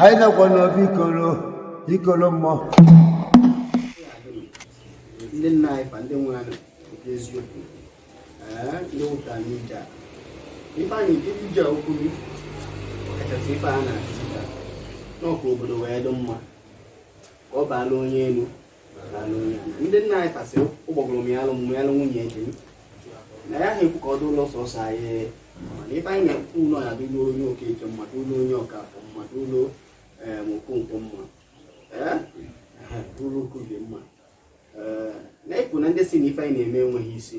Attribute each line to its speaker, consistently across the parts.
Speaker 1: anyị nọkwa n'obi ikolo ikolo mmụọ
Speaker 2: ndị nna anyị fa ndị nwere anụ nke eziokwu ee ndị nwụta n'ije a ife anyị nke ije okwu gị kachasị ife a na-akụzi ka na ọ ka obodo wee dị mma ka ọ baala onye elu ndị nna anyị fa sị ụgbọgụrụ mịalụ m mịalụ nwunye di m na anyị aha ekwu ka ọ dụlụ sọsọ anyị mana ife anyị na-ekwu bụ na ya dịlu onye okeke mma dịlu onye ọkafọ mma dịlu okonkwo mma dịlu okoye mma na-ekwu na ndị sị na ife anyị na-eme enweghị isi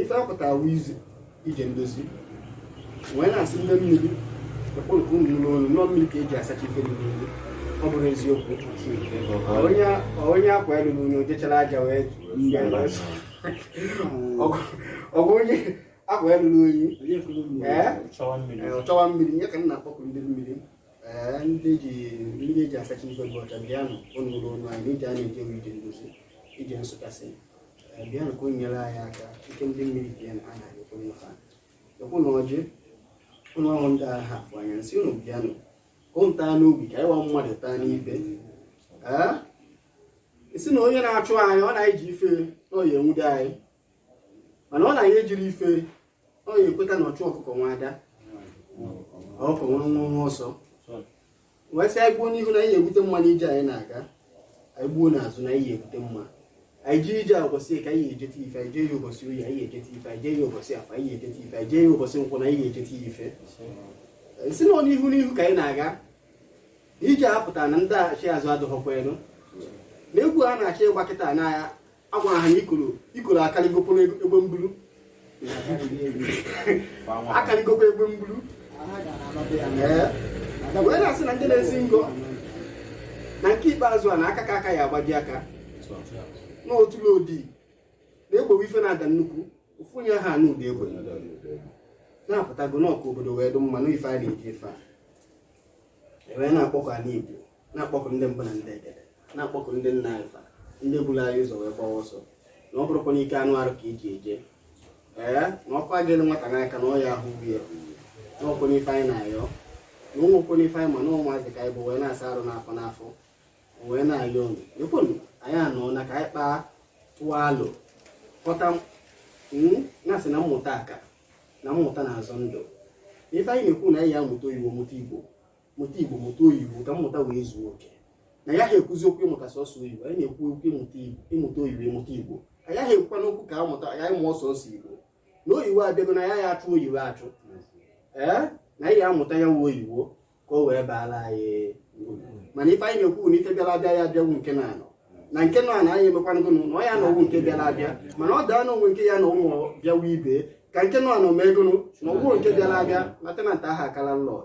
Speaker 2: ife apụtara izi ije ndozi wee na-asị ndị mmiri akpọkuo ụnụ n'olu na ọ mmiri ka eji asacha ife niile ọ bụrụ eziokwu onye akwa lulu unyi ojechara aja wee ọ bụ onye akwa lulu unyi ọ chọwa mmiri ya ka m na-akpọku ndị mmiri ndị ji ndị eji asacha ife bụ ọcha bịanụ ụnụ ụlọ ọnụ anyị n'ije a na-eje wụ ije ndozi ije nsụkasị bịanụ ka ụnụ nyere anyị aka ike ndị mmiri bịa na a na-anyekwa nyefe ekwu na ọjị ụlọ ọrụ ndị aha afụ anya nsị ụnụ bịanụ ka ụnụ taa n'ogbe ka anyị wa mmadụ taa n'ibe ee sị na onye na-achụ anyị ọ na-eji ife na ọ ya enwude anyị mana ọ na ya ejiri ife ọ ya ekweta na ọchụ ọkụkọ nwe ada ọkụkọ nwe nwe nwe ọsọ wee sị anyị gbuo n'ihu na anyị egwute mma n'ije anyị na-aga anyị gbuo n'azụ na anyị egwute mma anyị jee ije ụbọchị eke anyị ejete ife anyị jee ya ụbọchị oye anyị ejete ife anyị jee ya ụbọchị afọ anyị ejete ife anyị jee ya ụbọchị nkwọ na anyị ejete ya ife sị na n'ihu n'ihu ka anyị na-aga ije a pụtara na ndaachi azụ adụghọkwa uru na egwu a na-achọ ịgba kịta na a gwara ha na ikoro ikoro akarịgokwa egbe mbulu akarịgokwa egbe mbulu wee na-asị na ndị na-esi ngo na nke ikpeazụ na aka ka aka ya agbaji aka na otula odi na-egbowe ife na-ada nnukwu ofu onye aha anụ ụda egbe na a pụtago na ọ ka obodo wee dụ mma n'ife a na-eji ife a ewee na-akpọku ala igbo na-akpọku ndị mbụ na ndị egede na-akpọku ndị nna anyị fa ndị buru anyị ụzọ wee gbawa ọsọ na ọ bụrọkwa n'ike anụ arụ ka eji eje ee na ọkụ a gụrụ nwata n'aka na ọ ya ahụgbu ya na ọ kwanụ ife anyị na-ayọ na o nwekwanụ ife anyị ma na ụmụazị ka anyị bụ wee na-asa arụ n'afọ n'afọ wee na-ayọ unu ekwenu anyị anọ na ka anyị kpaa tụọ alụ kpọta na-asị na mmụta aka na mmụta na-azọ ndụ ife anyị na-ekwu na anyị ya amụta oyibo mụta igbo mụta igbo mụta oyibo ka mmụta wee zuo oke na anyị aha ekwuzi okwu ịmụta sọsọ oyibo anyị na-ekwu okwu ịmụta igbo ịmụta oyibo ịmụta igbo anyị aha ekwukwanụ okwu ka amụta ya anyị mụọ sọsọ igbo na oyibo abịago na a ya achụ oyibo achụ ee na anyị amụta ya nwa oyibo ka o wee baala anyị uru mana ife anyị na-ekwu na ife bịara abịa ya abịagbu nke nọ anọ na nke nọ na anyị emekwanụgo na ọ ya anọgbu nke bịara abịa mana ọ daa n'onwe nke ya na ụmụ bịawa ibe ka nke nọ anọ megonụ nọgbuo nke bịara abịa na tenant aha aka landlord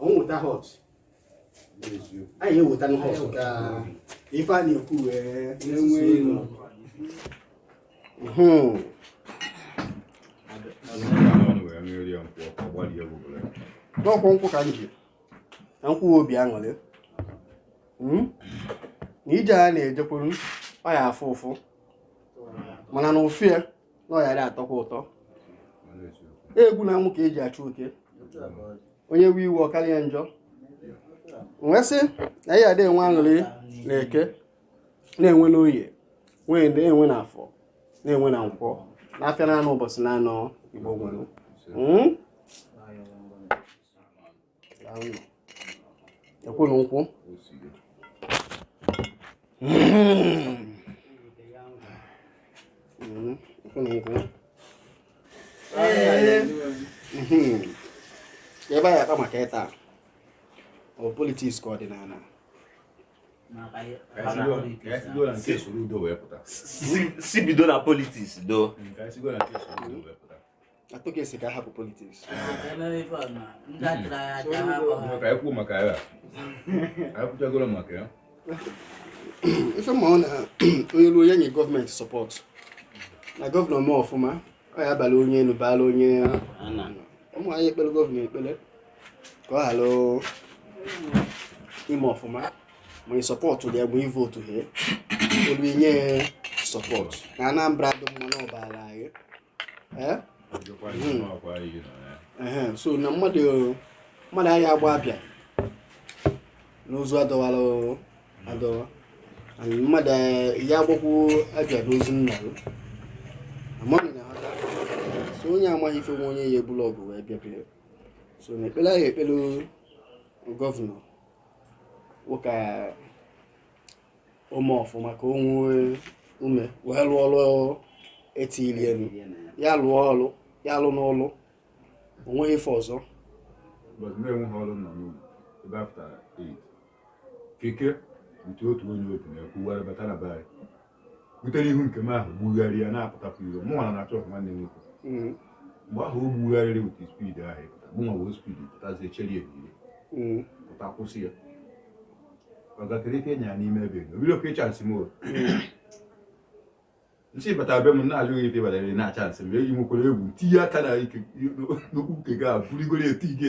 Speaker 2: nweta hot anyị eweta hot ka ife a na-ekwu wee na-enwe ilu n'ọkwụ nkwụ ka m ji na nkwụ obi aṅụrị hmm? na ije a na-ejekwuru ọ ya afụ ụfụ mana na ụfụ ya na ọ ya adị atọkwa ụtọ egwu na amụ ka eji achụ oke onye wee iwe ọ karịa njọ wee sị na ị ya adị enwe aṅụrị na eke na-enwe n'oye na-enwe na afọ na-enwe na nkwọ n'afịa na anọ ụbọchị na anọ igbo nwere ekwunu nkwụ ebe a ya akpa maka ịta ọ politiks ka ọdịnala
Speaker 3: si bido na politiks do
Speaker 2: atụghị esi ka a hapụ politiks ekwu maka ya akwụchagoro maka ya ife m ma ọ na onye ruo ya nye gọọmenti sọpọtụ na gọvanọ mee ọfụma ọ ya abala onye elu baala onye ana ụmụ anyị ekpere gọvanọ ekpere ka ọ ghara ime ọfụma ma ị sọpọtụ ya bụ ivotu ha olu inye sọpọtụ na Anambra dị mma na ọ baara anyị eh? hmm. so na mmadụ mmadụ aya agba abịa n'ozu adọwara adọwa mmadụ eh, ya agbakwu abịa n'ozu nna ya amaghị na ha so onye amaghị ife nwanne ya ebulu ọgụ wee bịa so na ekpere anyị ekpere gọvanọ wụ ka o mee ọfụma ka o nwee ume wee lụọ ọrụ e tinyelu ya lụọ ọrụ ya lụnụ ọrụ o nweghị ife ọzọ but
Speaker 4: mgbe enweghị ọrụ nọ n'ụlọ ebe afta 8 keke nke otu onye otu na-ekwuwara bata na be anyị butere ihu nke m ahụ gbugharị ya na-apụtapụ iro mụ nwa na-achọ ọfụ nwanne m nwoke mm. mgbe ahụ o gbugharịrị with speed ahụ ịpụta mụ nwa wee speed pụtazie cheri ebiri mm. pụta kwụsị ya ọ gakere ife nya n'ime ebe o bido ka ị chansị m o nsị bata be m na-ajụghị ife batara na chansị m eji nwekwara egwu tinye aka na ike n'okwu nke gị a bụrigoro eti gị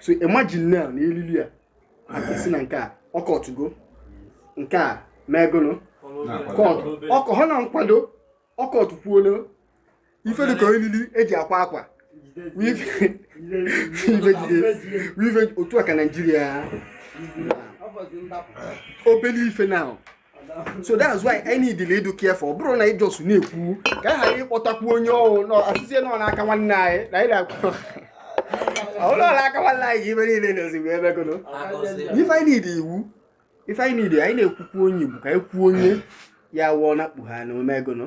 Speaker 2: so imagine now na elili a akụsi na nke a ọkọtụgo nke a megolo kọtụ ọkọ ha na nkwado ọkọtụ kwuolo ife dịka elili eji akwa akwa weave otu a ka naijiria obele ife now so that's why I need the lead care for bụrụ na ị just na-ekwu ka a ghara ịkpọtakwu onye ọhụụ nọ asịzie nọ n'aka nwanne anyị na anyị na-akwụ ọhụrụ nọ n'aka nwanne anyị ga ibe niile na-ezigbo ebe gono if I need iwu if I need anyị na-ekwukwu onye Igbo ka anyị kwuo onye ya wụọ na kpugha na o megono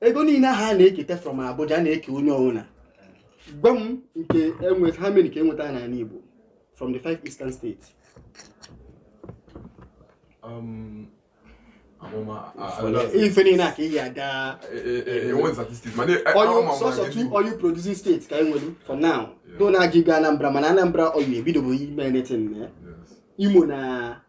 Speaker 2: ego niile ahụ a na-eketa from Abuja na-eke onye ọbụla gwa m nke enweta ha mere nke enweta n'ala Igbo from the five eastern states um, ife niile a ka ị aga oil producing states ka enwere for now though na-aga igo Anambra mana Anambra oil ebidobeghị ime anything na Imo na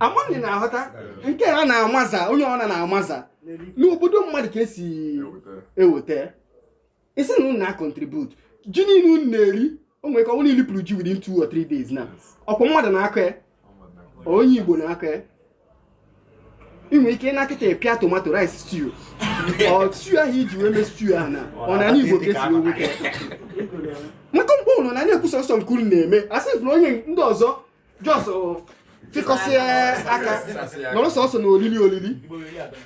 Speaker 2: ama m na ị na-aghọta nke a na-amaza onye ọna na-amaza n'obodo mmadụ ka esi eweta ị sị na unu na-contribute ji niile unu na-eri o nwere ka ọ bụrụ na ị lipụrụ ji within two or three days na ọkwa mmadụ na-akọ ya onye igbo na-akọ ya ị nwere ike na kịta pịa tomato rice stew ọ stew ahụ e ji wee mee stew ahụ na ọ na igbo ka esi wee weta maka mgbe unu nọ na-ekwu sọsọ nke unu na-eme asị na onye ndị ọzọ just fịkọsịa aka nọrọ sọsọ na olili olili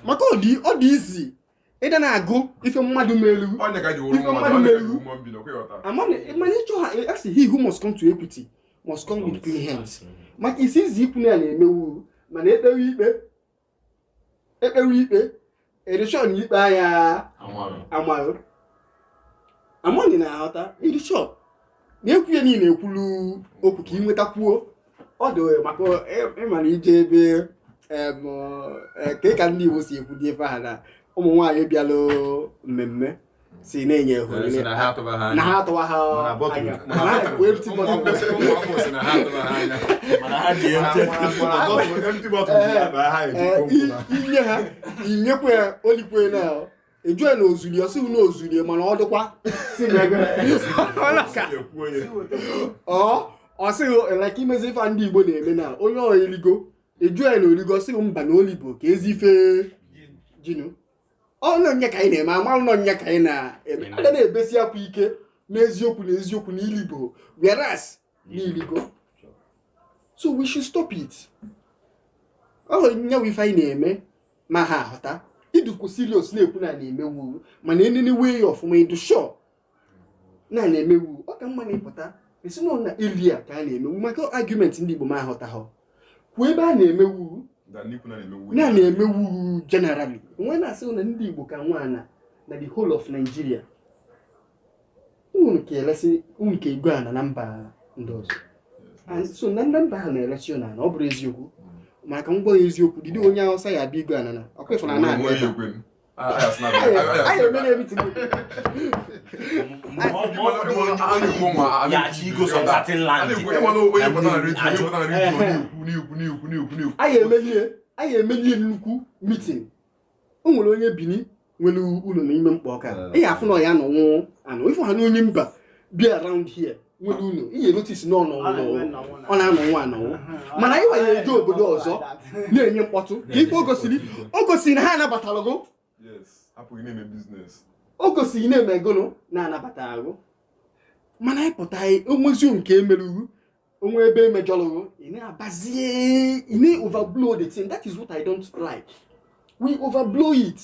Speaker 2: maka ọ dị easy ịdị na-agụ ife mmadụ melu ife mmadụ melu mana ịchọ ha asị he who must come to equity must come with clean hands maka it's easy ikwu na ya na-emewu mana ekpewe ikpe ekpewe ikpe ị dị sure na ikpe anya amaghị ama m na ị na-aghọta ị dị sure na-ekwu ya niile ekwulu okwu ka ị nwetakwuo ọ dị maka ịmara ije ebe ka ka ndị Igbo si ekwu dị ebe ha na ụmụ nwaanyị bịalụ mmemme si na-enye ego na ha atụwa ha anya inye ha inyekwa ya olikwe na ajụ ya na ozuli ọ sị na ozuli mana ọ dịkwa ọ sịghị like imezi ife ndị Igbo na-eme na onye eligo ajụ ya na oligo ọ sị mba na olibo ka ezi ife jinu ọnụ ọ ya ka anyị na-eme amalụ na ọ ya ka anyị na-eme a ga na-ebesi akwa ike n'eziokwu na eziokwu na ilibo whereas na iligo so we should stop it ọ ya wụ ife anyị na-eme ma ha ahụta idukwu serious na-ekwu na a na-emewu mana enenewe ya ọfụma ịdụ sure na a na-emewu ọ ka mma na ịpụta sị na na area ka a na-emewu maka argument ndị Igbo ma ahụta ha kwuo ebe a na-emewu na na-emewu generally onwe na-asị na ndị Igbo ka nwe ana na the whole of Nigeria unu ka elesi unu ka ego ana na mba ndị ọzọ And so na ndị mba ha na-eresi unu ana ọ bụrụ eziokwu maka ngwa ya eziokwu dịdị onye Hausa ya abịa ego ana na Ọka ịfụna na-abịa ebe a. anyị emelie nnukwu meeting o nwere onye Bini nwere ụlọ n'ime mkpọ Ọka ị ya afụ na ya nọ nwayọ ị fụ ha na onye mba bi around here nwere ụlọ ị ya notice na ọ nọ ọ na-anọ nwayọ mana anyị nwa ya eje obodo ọzọ na-enye mkpọtụ ka ife o gosiri o gosiri na ha anabatara gụ o gosiri na eme gụnụ na anabata gụ mana anyị pụta onwezi nke emere gụ onwe ebe emejọrọ ị na-abazie ị na-overblow the thing that is what I don't like we overblow it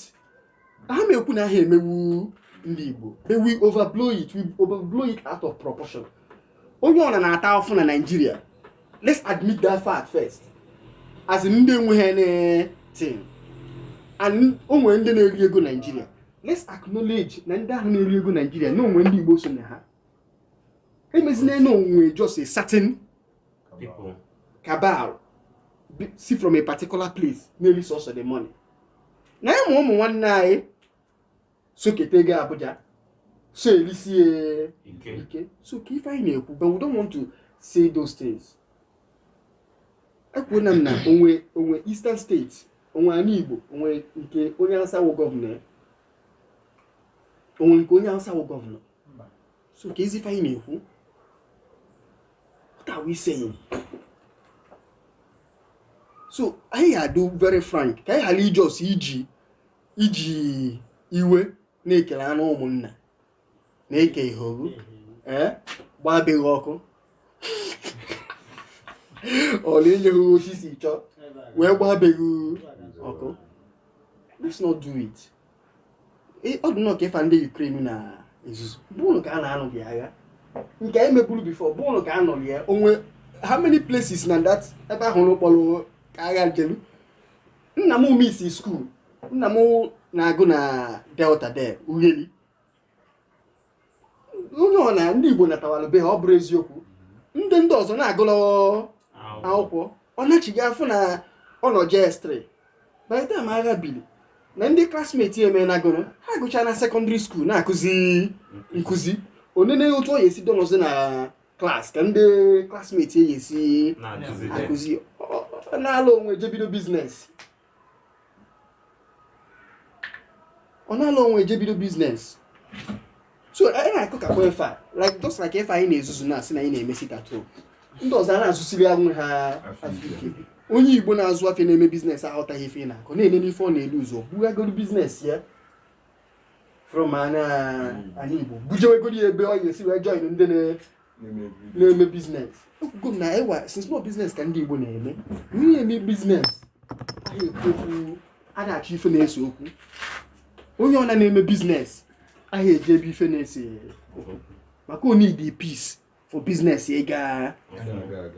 Speaker 2: ha ma ekwu na ha emewu ndị Igbo we overblow it we overblow it out of proportion onye ọna na-ata afụ na Nigeria let's admit that fact first as ndị enweghị anything and onwe ndị na-eri ego Nigeria let's acknowledge na ndị ahụ na-eri ego Nigeria na onwe ndị Igbo so na ha emezina na onwe just a certain people cabal si from a particular place na-eri sọsọ the money na ịmụ ụmụ nwanne anyị sokete ga Abuja so erisie ike so ka ife anyị na-ekwu but we don't want to say those things ekwuona m na onwe onwe Eastern States onwe anị Igbo onwe nke onye Hausa wụ gọvanọ onwe nke onye Hausa wụ gọvanọ so ka ife anyị na-ekwu what are we saying so anyị ga-adị very frank ka anyị ghara ị just iji iji iwe na ekele anụ ụmụnna na-eke ihe oru ee gbaa be gị ọkụ ọ na enyeghị otu i si chọọ wee gbaa be gị ọkụ let's not do it ọ dị nnọọ ka ife ndị Ukraine na-ezuzu bụ ụlọ ka a na-anụ bụ agha nke anyị meburu before bụ ụlọ ka a nụrụ ya onwe how many places na that ebe ahụ n'ụkpọrọ ka agha jelu nna m missi school nna m na-agụ na Delta there Ughelli onye ọ na ndị Igbo natawara be ha ọ bụrụ eziokwu ndị ndị ọzọ na-agụlụ akwụkwọ ọ nachigha afụ na ọ nọ JS3 by the time agha bili na ndị classmate emenagoro ha gụchaa na secondary school na-akụzi nkụzi o nene otu ọ ya-esi donozi na class ka ndị classmate ya esi akụzi na-ala onwe jebido business ọ na-ala onwe eje bido business so anyị na-akọ ka ife a like just like ife anyị na-ezuzu na asị na anyị na-eme sit at home ndị ọzọ a na-azụsiri onwe ha afịa onye igbo na-azụ afịa na-eme business aghọtaghị ife ị na-akọ na-enene ife ọ na-elu ụzọ bugagoro business ya anị Igbo bujewegoro ebe ọ ya-esi wee join ndị na-eme business ekwugo m na ever since na ọ business ka ndị Igbo na-eme onye eme business ahị ekwu okwu ada achọ ife na-ese okwu onye ọ na-eme business ahị eje ebe ife na-ese okwu maka o needi peace for business ị ga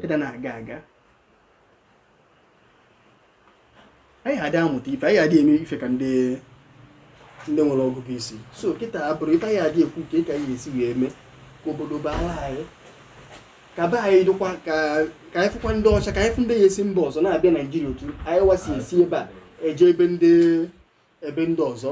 Speaker 2: ịda na-aga aga anyị adị amụta ife anyị adị eme ife ka ndị ndị nwere ọgụgụ isi so kịta abụrụ ife anyị adị ekwu ka ị ka anyị esi wee mee ka obodo baa anyị ka be anyị dịkwa ka anyị fụkwa ndị ọcha ka anyị fụ ndị ya-esi mba ọzọ na-abịa naijiria otu anyị wa si esi ebe a eje ebe ndị ebe ndị ọzọ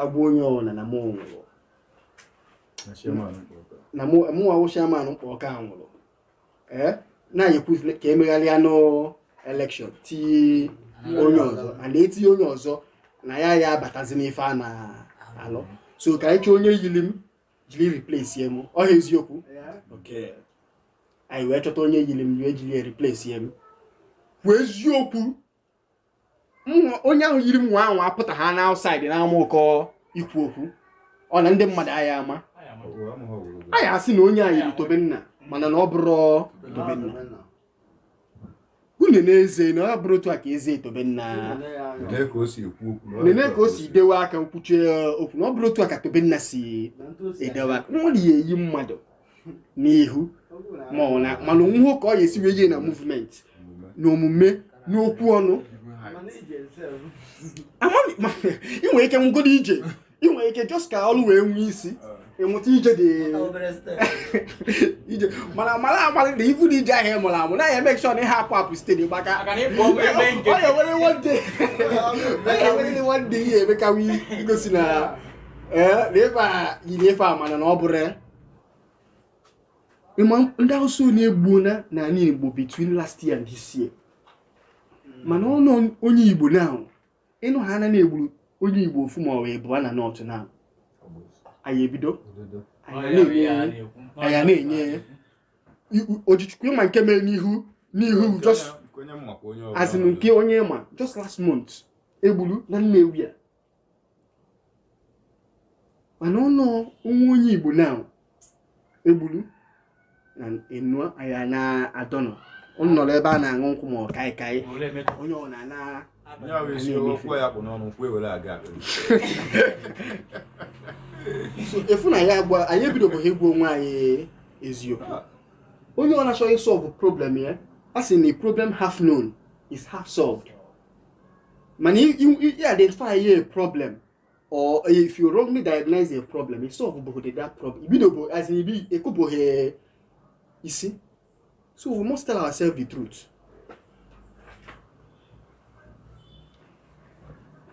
Speaker 2: agwa onye ọwụna na mụ nwụrụ na mụ a wụ chairman Ụkpọ ka nwụrụ ee na anyị ekwu ka emegharịa new election tinye onye ọzọ and etinye onye ọzọ na ya ya abatazi n'ife a na-alụ so ka anyị chọọ onye yiri m jiri replace m ọ ha eziokwu anyị wee chọta onye yiri m wee jiri replace m kwuo eziokwu onye ahụ yiri m nwa ahụ apụta ha na outside na ama ụkọ ikwu okwu ọ na ndị mmadụ a ya ama a ya asị na onye a yiri tobenna mana na ọ bụrọ tobenna unu na-eze na ọ bụrọ otu a ka eze tobenna nene ka o si dewe aka nkwuchie okwu na ọ bụrọ otu a ka tobenna si edewe aka nwere ya eyi mmadụ n'ihu ma ọ na mana onweho ka ọ ya esi wee yie na movement na omume n'okwu ọnụ amaghị ma ị nwere ike mụgodo ije ị nwere ike just ka ọrụ wee nwee isi ịmụta ije dị ije mana mara amalị na ibu na ije ahụ ị mụrụ amụ na ya make sure na ihe apụ apụ steady gba ka Maka na ịbụ ọgwụ ebe nke. ọ ya were one day ọ ya were one day ya emekawa igosi na ee na ịba yiri ife a mana na ọ bụrọ ya ịma ndị awụsa one egbuna n'ala igbo between last year and this year hmm. mana ọ nọ onye igbo now ịnụ ha na egburu onye igbo ofu ma ọ bụ na north now anyị ebido anyị na-enye ojichukwu ịma nke mere n'ihu n'ihu just as in nke onye ma just last month egburu na nnewi a mana ọ nọ ọ wụ onye igbo now egburu na enu ya na-adọnọ ọ nọrọ ebe a na-aṅụ nkwụ ma ọ kaịkaị onye ọ na-ana So, ịfụ na ya agwa anyị ebidobeghị ịgwa onwe anyị eziokwu onye ọ na-achọ ị solve problem ya a sị na problem half known is half solved mana identify ya a problem or if you wrongly diagnose a problem you solve bohode that problem ibidobo as in ibi ekobohe isi so we must tell ourselves the truth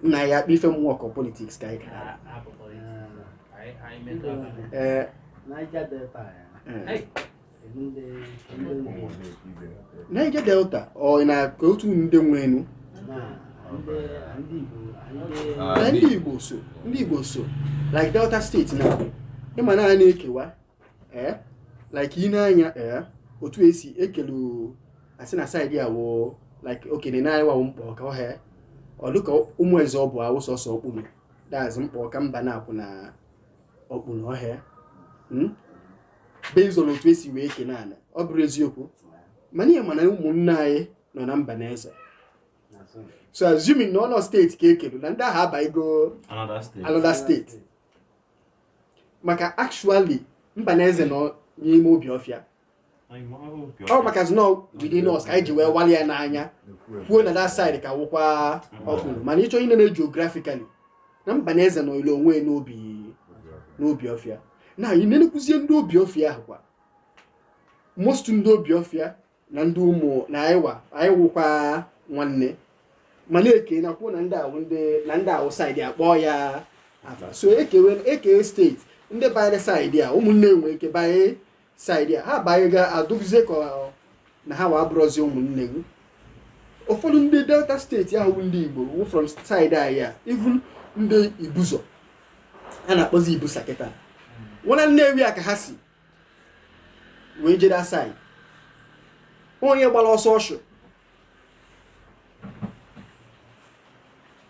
Speaker 2: na ya akpa ife m work of politics ka anyị gara ee niger delta ọ na ka otu ndị nwenu na ndị igbo so ndị igbo so like delta state now ịma na a na-ekewa ee like i nee anya ee otu esi ekelu asị na side a wụ like okene na anyịwa wụ mkpọka ọ hee ọ dịka ụmụ eze ọ bụ awụ sọsọ okpuno that's mkpọka mbanakwu na okpuno ọhịa based on otu esi wee kene ala ọ bụrụ eziokwu mana ị ya ama na ụmụnne anyị nọ na mba na eze so assuming na ọnọ state ka ekelu na ndị ahụ abaigo another state maka actually mba na eze nọ n'ime obiọfịa ọ makazị nọ within us ka anyị ji wee wali ya n'anya kwuo na that side ka wụkwa okpuno mana ịchọ inene geographically na mba na eze nọile onwe ya n'obi n'obiọfịa na ị nenekwuzie ndị obiọfịa ahụ kwa most ndị obiọfịa na ndị ụmụ na anyịwa anyị wụkwa nwanne mana ekena kwuo na ndị a wụ ndị na ndị a wụ side a akpọ ya afa so ekewe ekee state ndị banyere side a ụmụnne nwee ike banye saịdị a ha banye ga-adụzi ka ọ- na ha wee abụrọzi ụmụnne gị ụfọdụ ndị delta steeti ahụ bụ ndị igbo wụ from saịdị anyị a even ndị ibuzo a na-akpọzi ibusa kịta nwa na nnewi a ka ha si wee jee that saịdị onye gbara ọsọ ọchụ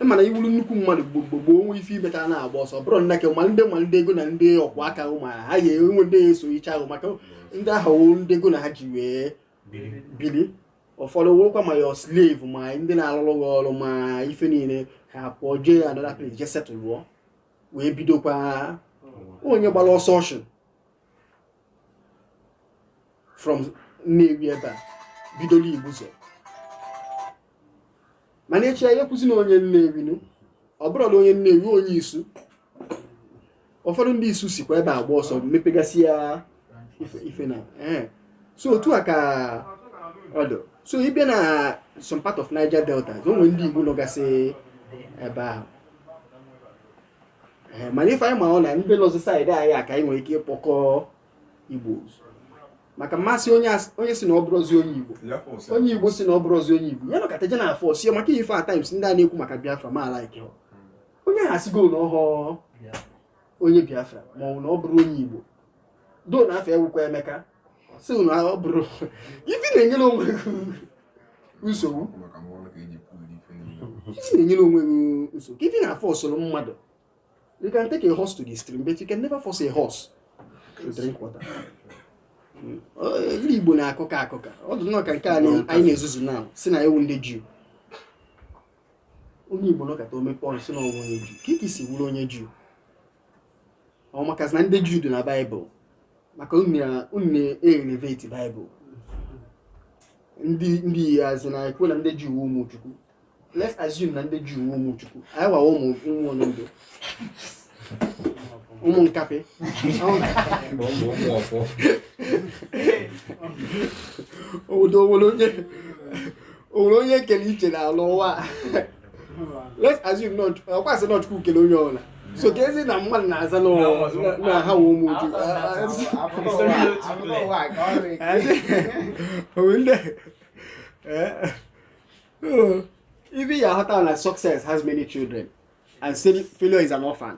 Speaker 2: ị ma na ị wụrụ nnukwu mmadụ gboo gboo gboo o nwee ife i meta na-agba ọsọ bụrụ nna ke ma ndị ma ndị ego na ndị ọkwụ aka ahụ ma ha ya enwe ndị ya eso iche ahụ maka ndị ahụ wụ ndị ego na ha ji wee bili ụfọdụ wụrụkwa ma your slave ma ndị na-alụrụ gị ọrụ ma ife niile ha pụọ jee another place jee setụlụọ wee bidokwa onye gbara ọsọ ọchụ from Nnewi ebe a bidoro Igbuzo mana echi anyị ekwuzi na onye Nnewi nu ọ bụrụ na onye Nnewi onye Isu ụfọdụ ndị Isu sikwa ebe a gbaa ọsọ mepegasị ya ife ife na ee so otu a ka ọ dị so ị bịa na some part of Niger Delta o nwere ndị Igbo nọgasị ebe ahụ ee mana ife anyị ma ọ na ndị nọzi saịdị anyị a ka anyị nwere ike ịkpọkọ igbo ọzọ. maka ma a sị onye as- onye si na ọ bụrọzi onye igbo onye igbo si na ọ bụrọzi onye igbo ya nọkata je na-aforce ya maka ife at times ndị a na-ekwu maka biafra ma like onye ha sigo na ọhọ onye biafra ma ọ bụ na ọ bụrọ onye igbo though na afa ya wụkwa emeka si na ọ bụrọ kee ife ị na-enyere onwe gị nsogbu ife na-enyere onwe gị nsogbu kee ife ị na-aforcerụ mmadụ you can take a horse to the stream but you can never force a horse to drink water hmm. ndị Igbo na-akụka akụka ọ dị nnọọ ka nke anyị na-ezuzu na-asị na anyị wụ ndị Juu onye Igbo nọkata o mepee ọnụ si na ọ wụ onye Juu kee ka i si wụrụ onye Juu ọ maka na ndị Juu dị na Baịbụl maka unu na-elevate Baịbụl ndị ndị azụ na-ekwu na ndị Juu ụmụ Chukwu let's assume na ndị Juu ụmụ Chukwu anyị nwa wụ ụmụ ụmụ onye ndụ ụmụ nkapị obodo o nwere onye kere iche na ala ụwa let's assume na ọkwa a sị na chukwu kele onye ọbụla so ka ezi na mmadụ na-aza na ọ- na ha wụ ụmụ chukwu Onwe ndị Eh, oh. ife ị ya-aghọta na success has many children and fail- failure is an orphan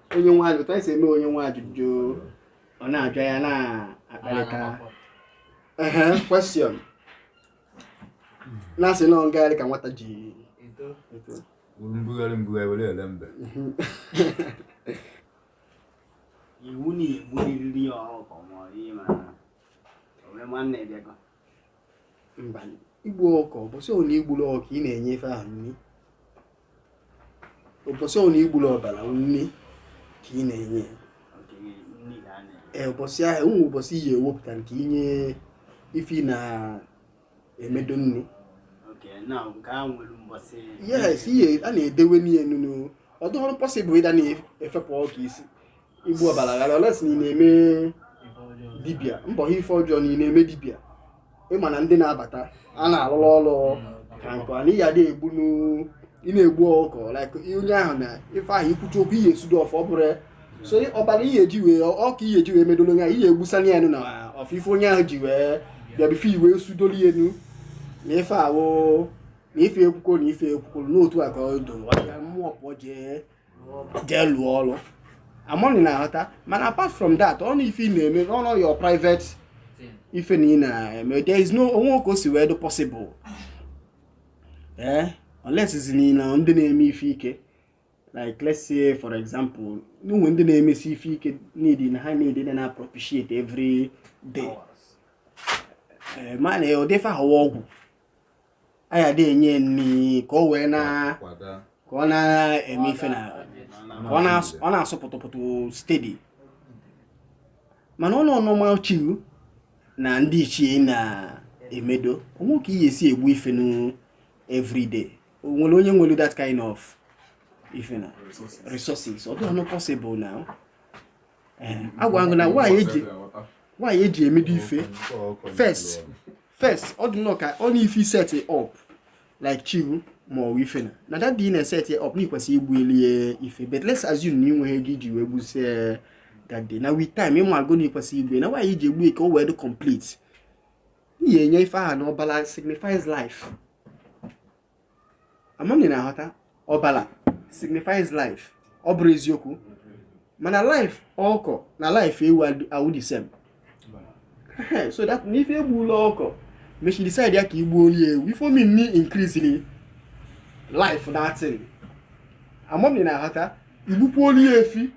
Speaker 2: onye nwe ajụjụ anyị si eme onye nwe ajụjụ ọ na-ajụ ya na-akparịta ehe question na-asị na ngagharị ka nwata ji eto wuru
Speaker 4: mbugharị mbugharị were ele
Speaker 5: mbe iwu na-egburiri ya ọkụkọ ma ọ dị ma ome nwanne bịakọ
Speaker 2: mba igbu ọkụ ụbọchị ọbụla igburu ọkụ ị na-enye ife ahụ nri ụbọchị ọbụla igburu ọbara nri ka ị na-enye ee ụbọchị ahụ ụmụ ụbọchị ị ya-ewepụta nke inye ife ị na-emedo nri yes ihe a na-edewe n'ihe nunu ọ dụghọrọ possible ị da na-efepụ ọkụ isi igbu ọbara ghara unless na ị na-eme dibịa mbọ ha ife ọjọọ na ị na-eme dibịa ịma na ndị na-abata a na-alụrụ ọrụ ka nke a n'ihi adị egbu n'u- ị na-egbu ọkụkọ like onye ahụ na ife ahụ ikwuchi okwu ị ya-esudo ọfọ ọ bụrụ ya so ọbara ihe eji wee ọkụ ihe eji wee medolo onye ahụ ị ya-egbusana ya enu na ọfọ ife onye ahụ ji wee bịa bife i wee sudolu ya enu na ife ahụ na ife ekwukworo na ife ekwukworo n'otu a ka ọ do mmụọ pụọ jee jee lụọ ọrụ ama m na ị na-aghọta mana apart from that ọ na ife ị na-eme on your private ife na ị na-eme there is no o nwe ka o si wee dị possible ee eh? unless ị sị na ndị na-eme ife ike like let's say for example n'ụmụ ndị na-emesi ife ike need na ha need na na-propitiate every day eh, mana ụdị ife ahụ wụ ọgwụ a ya-adị enye ya nri ka o wee na kwada ka ọ na-eme ife na ka ọ na-asụ- ọ na-asụ pụtụpụtụ steady mana ọ nọ normal chi gị na ndị ichie na-emedo o nwe ka ị ya-esi egbu ife nu everyday o nwere onye nwere that kind of ife na resources ọ dịghị possible now agwa gị na why e ji why e ji emedo ife first first ọ dị nnọọ ka ọ na ife set up like chi gị ma ọ ife na na that day na set up na ikwesị igbulu ife but let's assume na ị nweghị ego iji wee gbuzie that day na with time ị maago na ikwesị igbu na why e ji egbu ka o wee dị complete ihe enye ife aha na ọbala signifies life ama m na ị na-aghọta ọbala signifies life ọ bụrụ eziokwu mana life ọkọ na life ewu awụ the same so that if e gbula ọkọ mesịa decide ya ka i gbuolu ewu ife ọ mean na increasing life that thing ama m na ị na-aghọta i gbukwuolu efi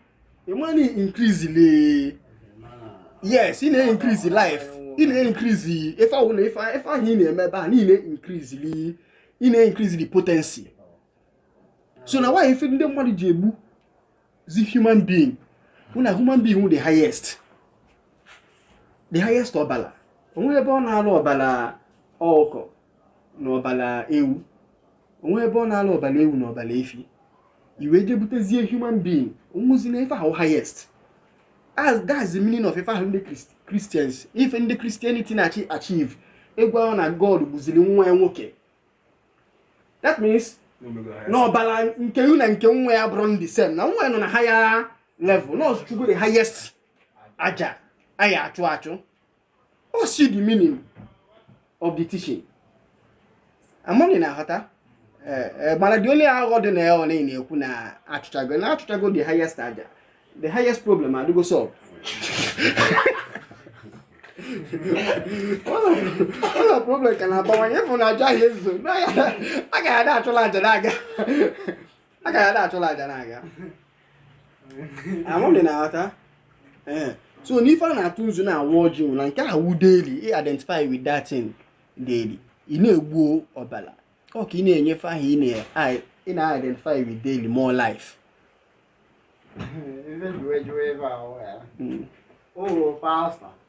Speaker 2: ị ma na ị increase le yes ị na-increase life ị na-increase ife ahụ na ife ahụ ị na-eme ebe a niile increase li ị na-increase the potency so na why ife ndị mmadụ ji egbuzi human being na human being wụ the highest the highest ọbala o nwe ebe ọ na-alụ ọbala ọkụkọ na ọbala ewu o nwe ebe ọ na-alụ ọbala ewu na ọbala efi i wee je butezie human being ọ wụzi na ife ahụ highest as that's the meaning of ife ahụ ndị Christians ife ndị Christianity na-achieve egwu ahụ na God gbuzili nwa ya nwoke that means na ọbala nke ya na nke nwa ya bụrụ the same na nwa ya nọ na higher level na ọzụchukwu the highest aja a ya-achụ achụ o si the meaning of the teaching amahọ m ị na-aghọta Eh, eh, mana the only aghụghọ dị na ya ọ na-ekwu na achụchago na achụchago the highest aja the highest problem adịgo solved ụlọ problem ka na-abawanye ị fụ na aja ahụ ezuhọ a ga-ada achụla aja na-aga a ka ya da achụla aja na-aga amahọ m ị na-aghọta ee so n'ife a na-atụ nzu na-awa ọjị na nke a wụ daily ị identify with that thing daily ị na-egbu ọbala ọ ka ị na-enye ife ahụ ị na-identify with daily more life Ebe jụwe jụwe ebe a
Speaker 5: ọ ya. O pasta.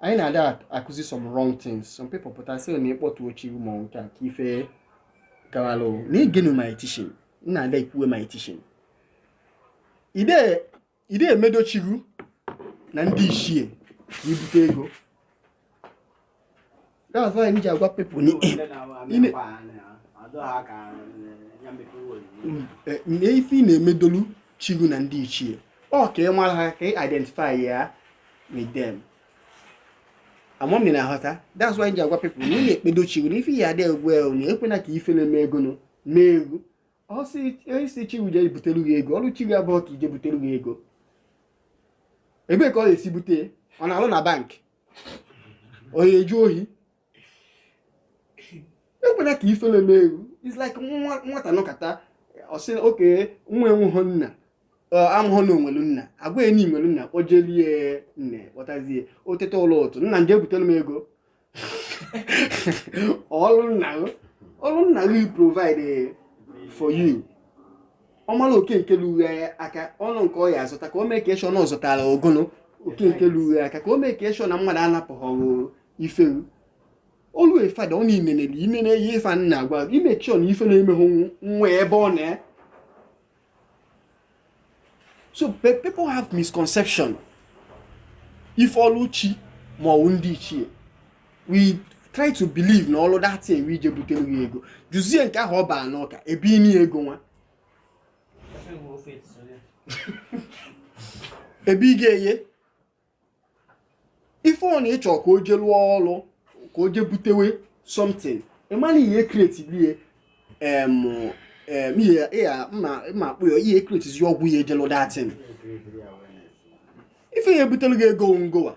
Speaker 2: anyị na-ada akụzi some wrong things some people pụta sị na ị kpọtụọ chi ma nke a ka ife gawalụ na i gee nụ my teaching nna ada ikwuwe my teaching ị da emedo chi gụ na ndị ichie ka i bute ego That's why m ji agwa people ni ine ife ị na-emedolu chi gụ na ndị ichie ọ ka ị mara ha ka ị identify ya with them amahọ m ị na-aghọta that's why m ji agwa people na ị na-ekpedo chi gụ na ife ya adị egwu ewu na ekwena ka ife na-eme ego nụ mee gụ ọ sị ị sị chi gụ je butelu gị ego ọlụ chi gụ abụhọ ka o je butelu gị ego ebee ka ọ ga-esi bute ọ na-alụ na bank ọ ya-ezu ohi ekwena ka ifele mee gụ it's like nwa- nwata nọkata ọ sị okay na ya enweghị nna ọ maghị na o nwelu nna a gwa ya na i nwelu nna o jelie nne kpọtazie o teta ụlọ otu nna m je butelu m ego ọlụ nna gị ọlụ nna gị provide for you ọ mara oke nke lughe aka ọnụ nke ọ ya azụta ka o make sure na ọ zụtara ogono oke nke lughe aka ka o make sure na mmadụ anapụghọrọ ife wu olu efada ọ na-inenele inene ihe ife nna agwa ị make sure na ife na-emehụ nwa ebe ọ nọ so people have misconception ife ọlụ chi ma ọ wụ ndị ichie we try to believe na ọlụ that thing wụ ije butere ya ego jụzie nke ahụ ọ baa n'ụka ebe ini ya ego nwa ebe ị ga-eye if ọ na ị chọ ka o je lụọ ọlụ ka o je butewe something ị mana ihe createbie mma akpụ ya ihe createzi ọgwụ ya eje lụ that thing ife ya ebutelu gị ego ngowa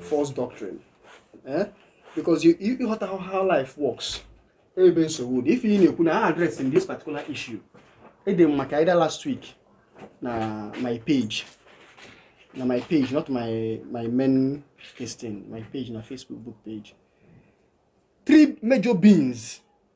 Speaker 2: false doctrine eh? because you you ịghọta how, how life works ebe nsogbu dị ife ị na-ekwu na a address in this particular issue ede m maka either last week na my page na my page not my my main this thing my page na facebook book page three major beings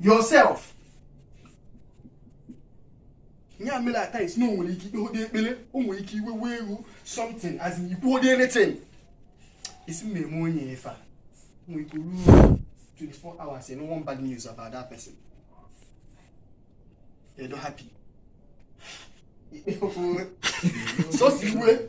Speaker 2: yourself nya mela at times na o nwere ike i kpehode ekpere o nwere ike iwe wee i kwuo something as in i kwuhode anything esi m eme onye efe a nwere ike ruo 24 hours ị nụ one bad news about that person they don't happy sọsi iwe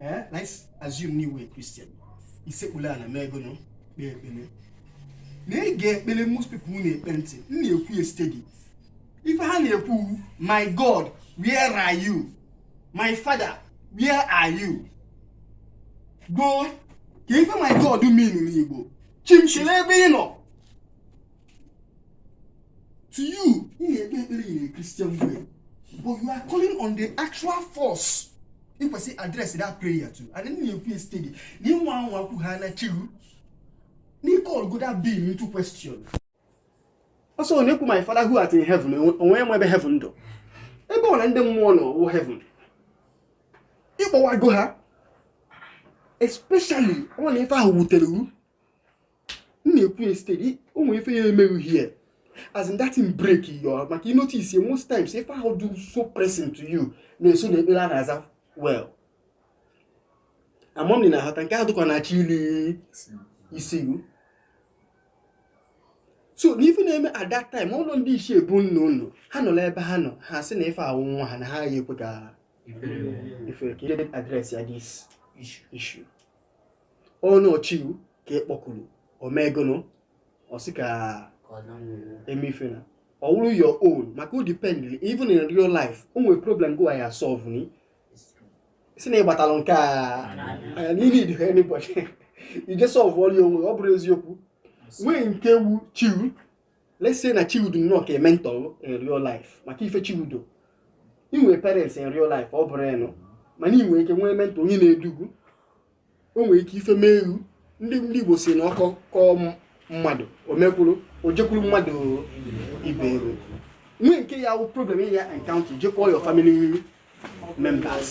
Speaker 2: ee ka anyị assume na ị wụ Christian i sekpulu ala megonụ kpee ekpele na ị ga-ekpele most people na-ekpe ntị m na-ekwu ya steady ife ha na-ekwu wu, my god where are you my father where are you gbọ ka ife my god mean n'igbo chi m chi lee ebe ị nọ to you ị na-ekpe ekpere in a Christian way but you are calling on the actual force ị kwesị address that prayer to and then you feel steady na ị nwa anwa kwu ha na chi wu na ị callgo that being into question ọsọ ọ na-ekwu my father who art in heaven o nwe enwe ebe heaven dọ ebe ọ na ndị mmụọ nọ wụ heaven ị kpọwago ha especially ọ na ife ahụ wutere wu m na-ekwu ya steady o nwere ife ya eme gị here as in that thing break you maka you notice ya most times ife ahụ dọ so pressing to you na-eso na ekpere a na-aza well ama m na ahata nke ahụ dịkwa na-achọ ili isi wu so n'ife na-eme at that time ụlọ ndị ichie be nna unu ha nọrọ ebe ha nọ ha sị na ife a wụ nwa ha na ha agaghị ekwe ka ife ka address ya this issue ọ na ọ chi wu ka ị kpọkuru o megonụ ọ sị ka e mefe na ọ wụrụ your own maka o depend even in real life o nwere problem go ya solve ni si na ị gbatalụ nke a need anybody ije solve ọrụ onwe ọ bụrụ eziokwu nwee nke wu chi wu let's say na chi ụ dụ nnọọ ka a mentor in real life maka ife chi ụ dụ ị nwee parents in real life ọ bụrụ ịnụ mana ị nwere ike nwee mentor onye na-edu gụ o nwere ike ife mee ihu ndị ndị Igbo si na ọkọ kọọ mmadụ o mekwuru o jekwuru mmadụ ibe ya o nwee nke ya wụ problem ị ya-encounter je call your family members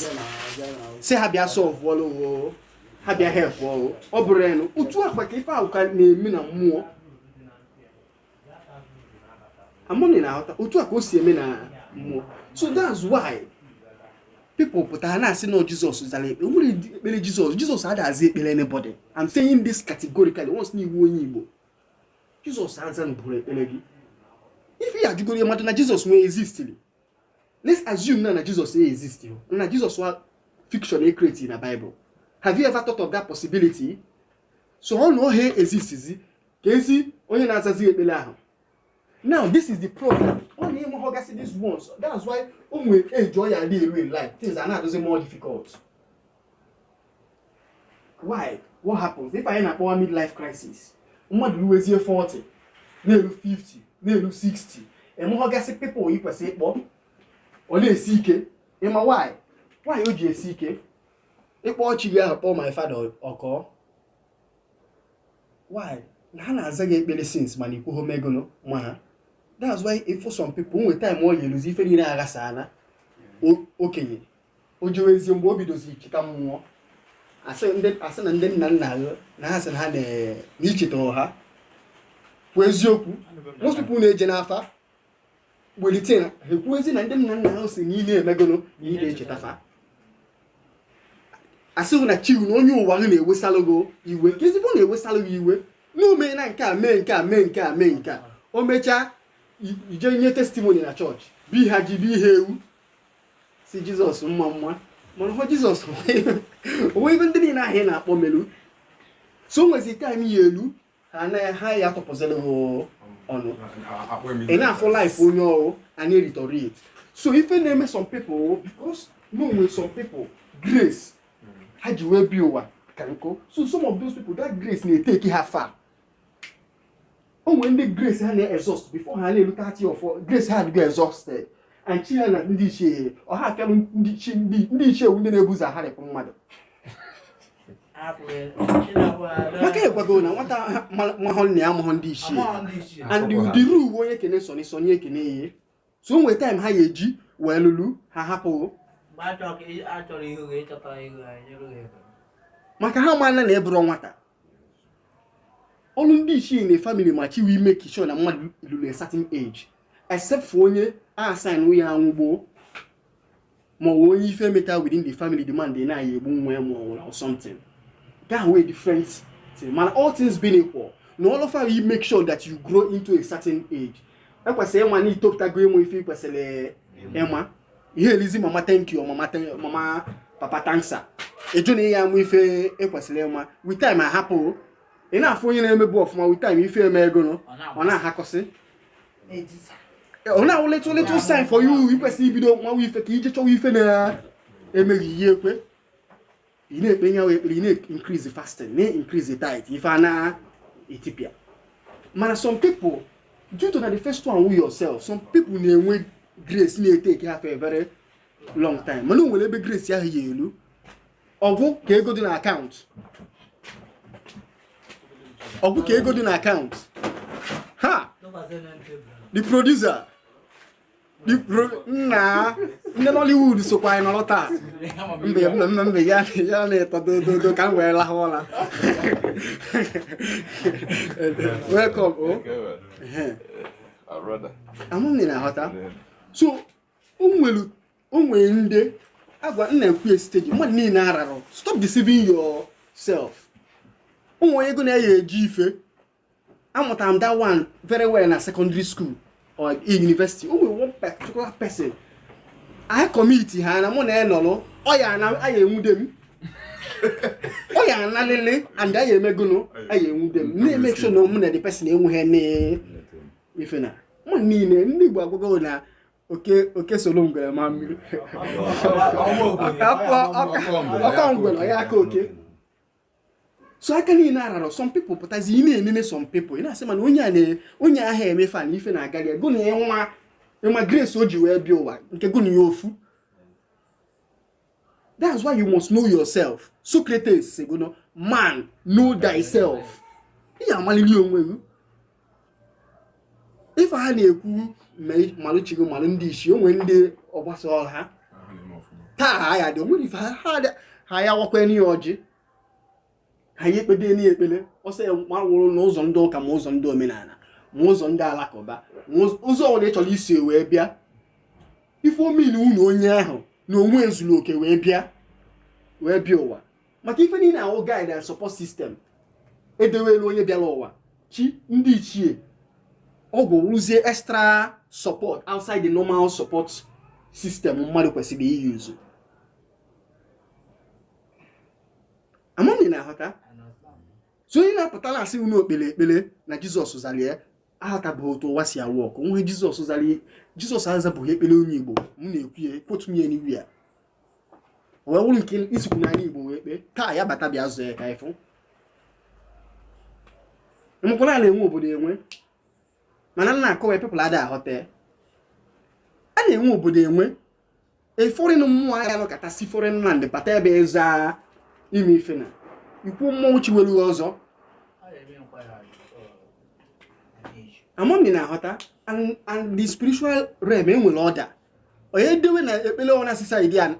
Speaker 2: sị ha bịa solve ọlụ ha bịa help ọrụ ọ bụrụ ịnụ otu akpa ka ife ahụ ka na-eme na mmụọ ama m na ị na-aghọta otu a ka o si eme na mmụọ so that's why people pụtara na-asị na ọ Jesus zara ekpere nwere ekpere Jesus Jesus adazi ekpere anybody i'm saying this categorically once na ị wụ onye Igbo Jesus azanụbụrọ ekpere gị ife ya ajụgoro mmadụ na Jesus nwee existiri let's assume na na Jesus e exist na Jesus wụ a fiction e create na bible have you ever thought of that possibility so ọ na ohe existizi keezi onye na-azazi ekpere ahụ now this is the problem ọ na ị mehọgasị these ones that's why o nwere age ọ ya na-elu in life things ana-adịzi more difficult why what happens ife anyị na-akpọ wụ midlife crisis mmadụ ruwezie 40 na-eru 50 na-eru 60 emehọgasị people ị kwesịrị ịkpọ ọ na-esi ike ị ma why why o ji esi ike ị kpọ chi gị ahụ kpọọ my father ọkọọ why na ha na-aza gị ekpere since mana ikwu home ego ma ha that's why ị fụ some people nwe time ọ ya-eluzi ife niile aghasa na okenye o jewezie mgbe o bidozi icheta mmụọ asị na ndị nna nna ya na ha sị na ha na-echetara ha bụ eziokwu most people na-eje n'afa welite ha ekwuozi na ndị nna nna ahụ sị na ihe emegolo na ihe echeta fa asị gị na chi ụ na onye ụwa ahụ na-ewesalụ gụ iwe nke ezigbo na-ewesalụ gụ iwe na omee na nke a mee nke a mee nke a mee nke a o mechaa i jee nye testimony na church bi ha ji bi ha ewu sị Jesus mma mma mana ọ wụrọ Jesus o nwe ife ndị niile ahụ ị na-akpọ melu so o nwezi time ọ ya-elu ha ya atụpụzịrị ha ọnụ ị na-afụ life onye ahụ ana-deteriorate so ife na-eme some people because no nwere some people grace ha ji wee bịa ụwa ka ukwu so some of those people that grace na-etake ha far o nwere ndị grace ha na-exhaust before ha na-erute thirty ị fụ grace ha adịgo exhausted and chi ha na ndị ichie ọha afịalụ ndị ichie ndị na-ebu ụzọ arapụ mmadụ maka ekwugo na nwata amahọ nna ya amahọ ndị ichie and the rule wụ onye kene Sunny Sunny ekene ya so o nwere time ha ya eji wee lụrụ ha ahapụ maka ha maala na ị bụrọ nwata ọnụ ndị ichie na family ma chi wo emake sure na mmadụ lulu a certain age except for onye assign ya anwụ gboo ma ọ bụ onye ife meta within the family demand na ya egbu nwa ya ma ọ nwụrụ or something that way different thing mana all things being equal na all of you make sure that you grow into a certain age ikwesịrị ịma na itopụtago ịmụ ife ikwesịrị ịma ihe elizi mama thank you mama papa thank sir ịjụ na ị ya amụ ife ikwesịrị ịma with time ahapụ ị na-afụ onye na-emebu ọfụma with time ife emee gụnọ ọ na-ahakọsị ọ na-awụ little little sign for you ikwesị ibido nwa ife ka ije chọwa ife na-eme gị ihe ekwe ị na-ekpe nyawo ekpere ị na-increase fasting na-increase tithe ife a na-etipịa mana some people due to na the first one wụ yourself some people na-enwe grace na-etake ha for a very long time mana o nwere ebe grace ahụ ya elu ọ gwụ ka ego dị na account ọ gwụ ka ego dị na account ha the producer na ndị nollywood sokwa anyị nọrọ taa mbe mbe mbe ya ya na-eto dododo ka m wee lahụ ụra welcome
Speaker 6: o amụghị na
Speaker 2: aghọta so o nwere ndị agwa nna ekwu ya site gị mmadụ niile ararụ stop deceiving yourself ụmụ onye ego na-eyi eji ife amụtara m that one very well na secondary school or university o nwere one particular person anyị commit ha na mụ na ya nọrọ ọ ya na a ya enwude m ọ ya analịlị and a ya eme gụnụ a ya enwude m na-emake sure na mụ na the person enweghị n'ife na mụ niile ndị Igbo agwago na oke solo ngwere ma mmiri ọ kọ ngwere ya akọ oke so aka niile ararọ some people pụtazi ị na-enene some people ị na-asị mana onye a onye ahụ eme fan ife na-agara ya gụ na ya nwa ịma grace o ji wee bịa ụwa nke gụ na ya ofu that's why you must know yourself Socrates sị gụnọ man know thyself ị ya amalili onwe gị ife ha na-ekwu malụ chi gụ malụ ndị ichie i nwere ndị ọgbasa ọha taa ha ya dị o nwere ife ha ya wakwanụ ya ọjị ha ya ekpebenụ ya ekpele ọsọ ya gbanwụrụ n'ụzọ ndị ụka ma ụzọ ndị omenala ma ụzọ ndị alakụba ma ụzọ ọbụla ị chọrọ isi wee bịa ife ọ mean wụ na onye ahụ na onwe ezurọ oke wee bịa wee bịa ụwa maka ife niile a wụ guide and support system edewelu onye bịara ụwa chi ndị ichie ọgwụ wụzi extra support outside the normal support system mmadụ kwesịrị i-use amam ị na-aghọta so onye na-apụta na-asị na o kpere ekpere na jizọs zara ya ahọtabụ otu ụwa si a-work o nwe jizọs zara jizọs azabụghị ekpere onye igbo m na-ekwu ya quote me anywhere wee wụrụ nke isikwu n'ala igbo wee kpee ka ya bata bịa zaa ya ka ịfụ makana a na-enwe obodo enwe mana m na-akọwa people ada ahọta a na-enwe obodo enwe a foreign mmụọ aya anọkata si foreign land bata ebe eza ime ife na ikwu mmụọ nọchiwelu ụzọ amam ị na-aghọta na the spiritual realm e nwere order onye edewe na ekpele ọnwa na society a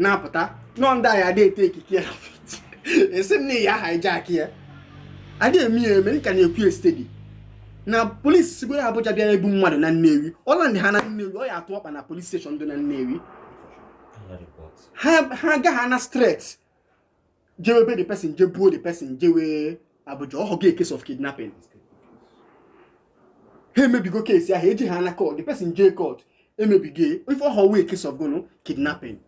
Speaker 2: na-apụta nọ ndị anyị adị e-take care ya ị sị na ya hijack ya adị eme ya eme m ka na-ekwu ya steady na police sigodu Abuja bịa ibu mmadụ na Nnewi ọ land ha na Nnewi ọ ya atụ ọkpa na police station dị na Nnewi ha agaghị ana straight jewe be the person je buo the person jewe Abuja ọ wụgo case of kidnapping ha emebigo case ahụ eje ha na court the person je court emebigo ife ọ wụwa case of gụnụ kidnapping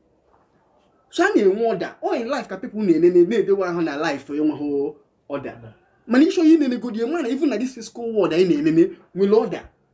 Speaker 2: so a na-enwe order all in life ka people na-enene na-edewe ahụ na life enweghị order mana ị chọọ inenegodi ị ma na even na this physical world anyị na-enene nwere order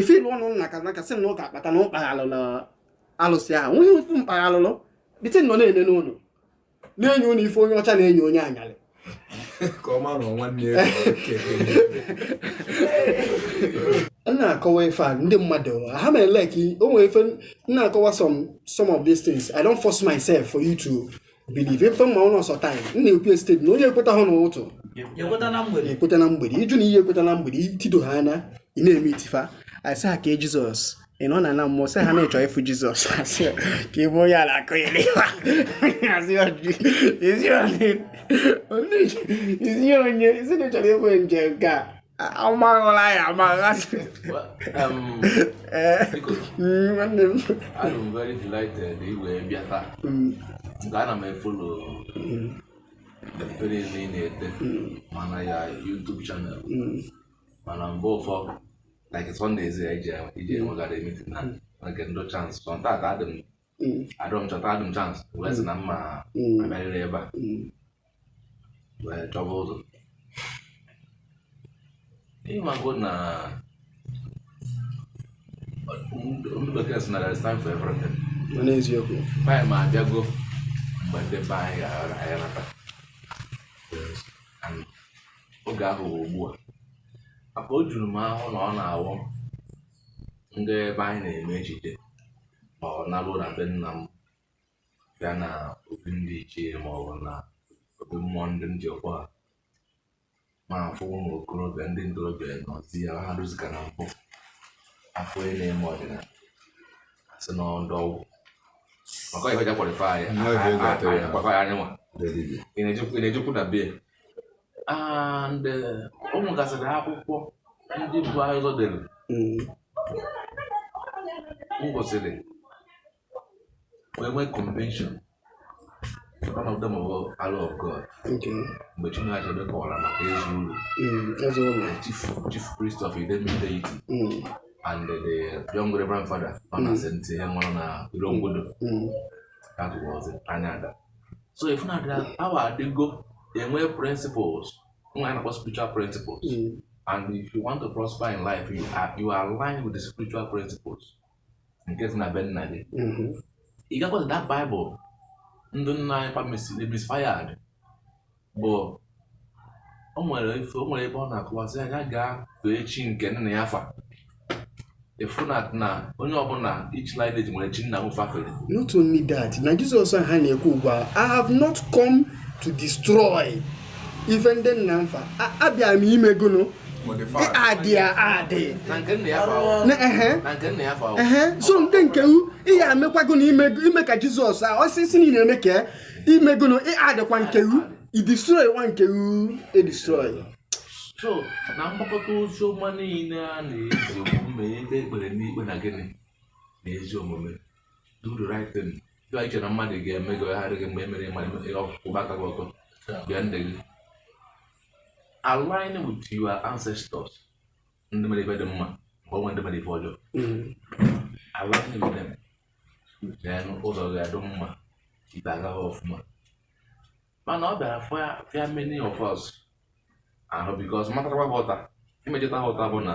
Speaker 2: ife lu unu n'aka n'aka sị na ọ ga-akpata na ụkpa alụlụ alụsị ahụ nweghị ofu mkpa alụlụ bite nọ na-enene unu na-enye unu ife onye ọcha na-enye onye anyalị
Speaker 1: m
Speaker 2: na-akọwa ife a ndị mmadụ ha eme like o nwere ife m na-akọwa some some of these things i don't force myself for you to believe ife m ma wụ na ọ sọ time m na-ekwu ya steady na onye ekwetahụ n'ụtụtụ ekweta na mgbede ekweta na mgbede ịjụ n'ehihie ekweta na mgbede itido ha anya ị na-eme itifa asị ha kee jizọs ị nọ na na mmụọ sị ha na-echọ ịfụ jizọs asị ya, ka ịbụ onye ala akụ ya n'ihu asị ya "Ji- ezi onye ezi onye ezi na ị chọrọ ịbụ nje nke a amaghịla ya amaghasị um, eh,
Speaker 7: mm, nwanne m I am very delighted ị wee bịa taa mm. nke ana m e-follow mm. efere ebe ị na-eme na your YouTube channel mana mgbe ụfọ like Sundays ijegharị meeting na nke ndụ chance tata adị m mm. adọ m chọta adụ m chansị wee sị na mma mm. abịarịrị ebe a mm. wee chọba ụzọ ịmago na ndị bekee sị na there is time for everything mana
Speaker 2: eziokwu anyị ma
Speaker 7: abịago mgbe ndị be anyị ga-aghara anyị nata oge ahụ bụ ugbu a maka o juru m ahụ na ọ na-awụ ndị be anyị na-eme ejije ọ nalụ na be nna m bịa na obi ndị ichie ma ọ bụ na obi mmụọ ndị m ji akpọ ha m afụ ụmụ okorobịa ndị ntorobịa nọzi ya ha rụzika na mpụ a fụ onye na-eme ọdịnala a sị na ndị ọgwụ maka ihe ọ ja qualify ya Ihe ọja ị ga-atụ ya. akwakwa ya anyị nwa Ndị dibịa. ị na-ejekwu ị na-ejekwu na bie and o nwegasịrị akwụkwọ ndị bu ụzọ dere mm. m gụsịrị wee nwee conviction one of them bụ arrow of god
Speaker 2: mgbe chinua achebe
Speaker 7: kọwara maka ezeulu mm, chief chief priest of idemili deity mm. and the young reverend father ọ na-asị ntị ihe nwụrụ na irongwodo that was anya ada so ị fụ na that power adịgo e nwe principles wa na-akpọ spiritual principles hmm. and if you want to prosper in life you are, you align with the spiritual principles nke si na be nna gị hmm. ị gakwata that bible ndị nna anyị fa mis- misfired bụ o nwere ife o nwere ebe ọ na-akọwa sị onye gaa fee chi nke nna ya fa efu na na onye ọbụla each lineage nwere chi nna m fa fere not only that
Speaker 2: na jizọs a ha na-ekwu ugbu a i have not come to destroy ife ndị nna m fa A- abịa m ime gụnụ Modify. add ya add na nke nna ya fa
Speaker 7: ahụ. Na- ehe. na nke nna ya fa ahụ. Ehe, so ndị nke u
Speaker 2: ihe amekwago na ime ime ka jizọs a ọsịsị niile eme ka ime gụnụ ị addkwa nke ru i destroy nwa nke ru e-destroy
Speaker 7: so na mgbakọta ozi ọma niile a na-ezi omume ebe ekpere na-ekpe na gịnị na ezi omume do the right thing dịwa iche na mmadụ ga-eme gị ọgharị gị mgbe e mere mmadụ kwụba aka gị ọtọ bịa ndị gị align with your ancestors ndị mere ife dị mma mgbe e nwe ndị mere ife ọjọọ align with them then ụzọ ga-adị mma ife ga-aga ọfụma mana ọ bịara fịa many of us ahụ because matakwa ghọta imejụta ghọta bụ na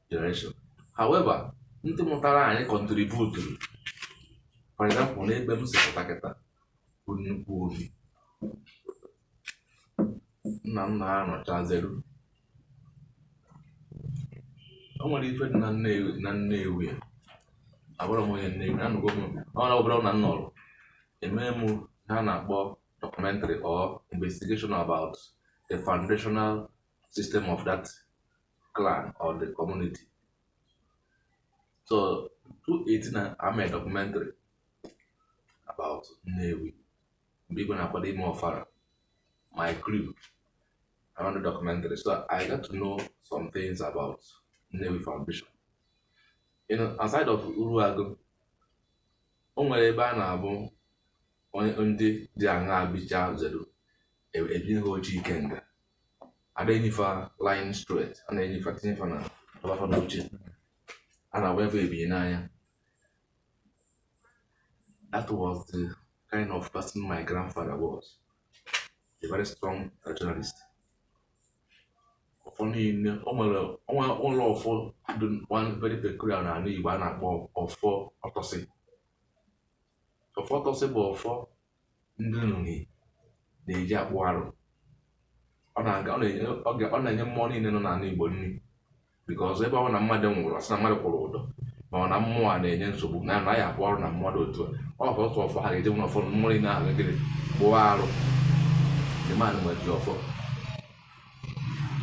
Speaker 7: generation however ndị mụtara anyị kọntributuru for example n'ebe m si pụta kịta bụ nnukwu obi nna nna ha nọchaziri o nwere ife dị na nnewi na nnewi a abụrụ m onye nnewi anụgo m ọ na ọbụla na nnọrọ emee m ihe a na-akpọ documentary or investigation about the foundational system of that clan or the community. So 2018 na I made a documentary about Nnewi. Mgbe igwe na-akwado ime ọfala, my crew around the documentary. So I got to know some things about Nnewi Foundation. You know, aside of Uruagu, o nwere ebe a na-abụ ndị diana bichaziri ebi ha oji ikenga ada enyifa line straight a na-enyifa tinyefa na ọba fa na uche a na-agba ebe ebinye n'anya that was the kind of person my grandfather was a very strong traditionalist ọfọ niile o nwere o nwere ọfọ dị one very peculiar na ala Igbo a na-akpọ ọfọ ọtọnsị ọfọ ọtọnsị bụ ọfọ ndị Nri na-eji akpụ arụ ọ na-aga ọ na-enye ọ ga- ọ na-enye mmụọ niile nọ n'ala Igbo nri because ebe ọbụna mmadụ nwụrụ asị na mmadụ kwụrụ ụdọ ma ọ na mmụọ a na-enye nsogbu na na ya akpụ arụ na mmụọ dị otu a ọ bụ otu ọfọ ha ga-eje nwere ọfọ mmụọ niile ahụ nri kpụọ arụ the man nwere ji ọfọ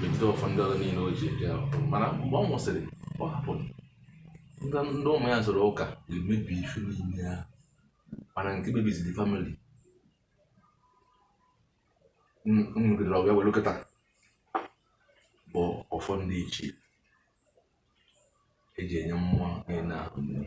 Speaker 7: megide ọfọ ndị ọzọ niile o ji eje ọfọ mana mgbe ọ nwụsịrị ọ hapụrụ ndị ndị ụmụ ya soro ụka ga-emebi ife niile ahụ mana nke kpebiziri famili nwegidere ọbịa were kịta bụ ọfọ ndị ichie eji enye mmụọ niile ahụ nri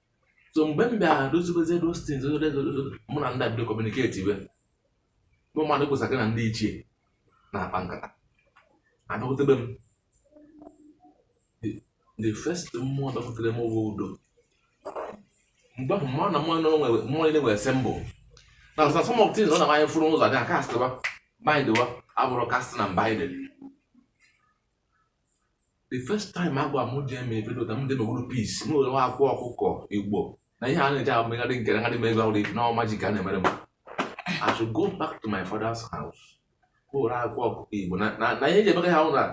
Speaker 7: so mgbe m bịara dozibezie those things mụ na ndị a bịa kọmuniketi iwe bụ mmadụ kwụsa gị na ndị ichie na-akpa nkata abịakwutebe m the first mmụọ bịakwutere m bụ Udo mgbe ahụ mmanụ na mmụọ niile nwere symbol na ọzọ some of things ọ na-amanye furu ụzọ dị akastịwa bindịwa abụrụ cast na bind the first time agwa m ji eme ife dota m dị n'okpuru peace m were nwa akwa ọkụkọ igbo na ihe a na-eji amegharị nke na ha dị m ego ọrụ ife na ọma ji ka a na-emere m I should go back to my father's house ga were akwa ọkụkọ igbo na na- na ihe eji emeka ha hụ na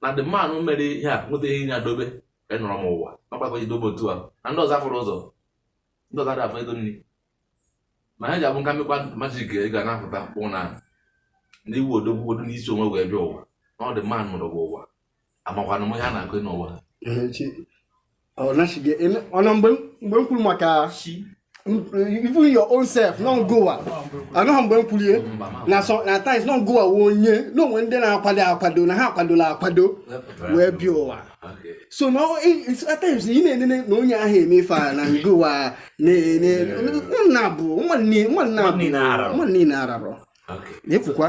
Speaker 7: na the man mere ihe a nweta ihe ya dobe enọrọ m ụwa ọgbakọ ji dobe otu a na ndị ọzọ afụrụ ụzọ ndị ọzọ adafụ ego nri ma ha ji abụ nka mmekwa magic ga na-apụta kpụ na ndị iwu odogwu odo n'isi onwe wee bịa ụwa na ọ dị mma nụrụ bụ ụwa amakwana m ihe a na-akọ n'ụwa
Speaker 2: ọna mgbe m kwuru maka even your own self non goa anọghị mgbe m kwulie na so na at times non goa wee onye na o nwe ndị na-akwado akwado na ha akwadola akwado wee bịa ụwa so na at times ị na-enene na onye ahụ eme ife a na ngụwa nna bụ nwanne ararọ
Speaker 7: na-ekwukwa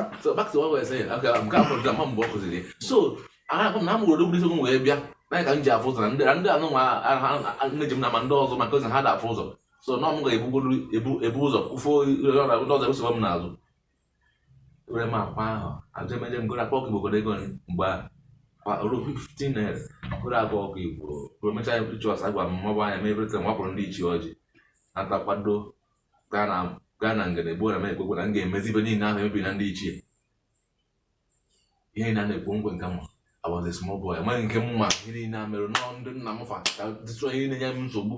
Speaker 7: so ahụ na amụrụ odogwu isi wee bịa na ka m ji afụ ụzọ na ndị ndị anụ nwa nne ji m na ma ndị ọzọ my cousin ha da afụ ụzọ so na ọ mụ ga-ebu ụzọ kwụfo ndị ọzọ ebusoba m n'azụ were m akwa ahụ eje m eje m goro akwa ọkụ igbo goro ego mgbe ahụ ruo 15 naira goro akwa ọkụ igbo ruo mechaa ya pụrụ church agwa m mọbụ anya mee everything wakpụrụ ndị ichie ọjị nata kwado gaa na gaa na ngene gbuo na m ekwekwe na m ga-emezi ife niile ahụ emebi na ndị ichie ihe niile a na-ekwu nkwe nke mma I was a small boy amaghị nke mma ihe niile a mere nọọ ndị nna m fa ka dịtụ ihe na-enye m nsogbu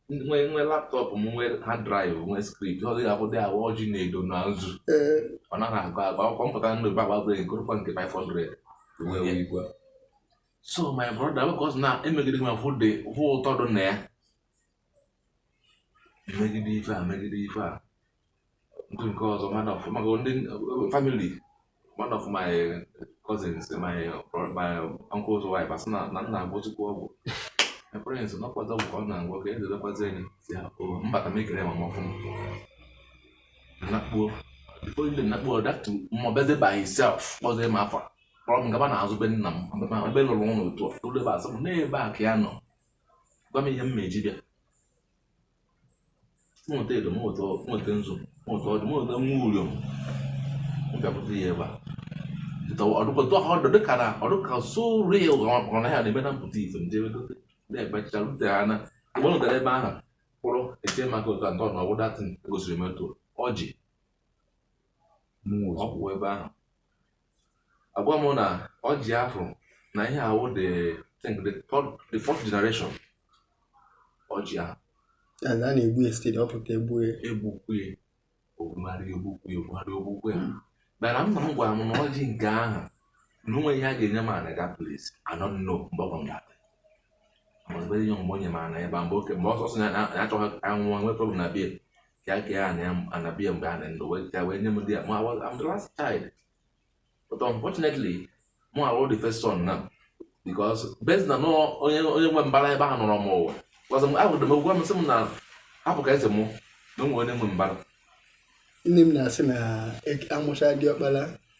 Speaker 7: nwee nwee laptop nwee hard drive nwee script ọ dịghị akwụdị awa ọjị na edo na nzu ọ naghị agụ agụ akwụkwọ mpụta ndụ ba gbagbe nkụrụkwa nke 500 wee igwe so my brother because na emegide ma fụ dị fụ ụtọ dị na ya megide ife a megide ife a nke nke ọzọ one of maka ndị family one of my cousins my my uncle's wife asị na na m na-agwọzikwa ọgwụ my parents nụkwazi ọgwụ ka ọ na-agwọ ka eze lekwazi enyi si ya o mbata m ekele ma m ọfụma nakpuo before you nakpuo that mmụọ beze by himself kpọzie m afa kpọrọ m gaba n'azụ be nna m mgbe ma ebe lụrụ ụlọ otu a tụrụ ebe asị m n'ebe a ka ya nọ gwa m ihe m ga-eji bịa m weta edo m weta m weta nzu m weta ọdụ m weta nwa uriom m bịa pụta ya ebe a ọdụkọta ọdụ dịka na ọdụka so real ọ na ya na-eme na mpụta ife ndị na-ebecha rute ha na mgbe ọ ebe ahụ kpụrụ eche maka ụta nke ọnụ ọ bụ that thing gosiri m otu ọjị kwụ ebe ahụ agwa m na ọjị afụ na ihe ahụ I think the third the fourth generation ọjị ahụ
Speaker 2: a na-egbu ya site ọ pụta egbu ya egbukwu ya
Speaker 7: ogwugharị egbukwu ya ogwugharị egbukwu ya mana nna m gwara m na ọjị nke ahụ na o nwe ihe a ga-enye m na that place anọ nno mgbe ọ gwara m ga-abịa mgbe ihe mgbe onye m ana ebe a mgbe oke mgbe ọsọsọ ya achọghị anwụọ nwee problem na be ya ka a kee ana ya ana biya mgbe a na ndụ wee taa wee nye m di ya ma I'm the last child but unfortunately mụwa wụ the first son now because based na onye onye nwe mbara ebe ahụ nọrọ mụwa gwazị m ahụrụ m egwu amasị m na hapụ ka eze mụ na o nwe onye nwe mbara nne m
Speaker 2: na-asị na e, amụcha diọkpara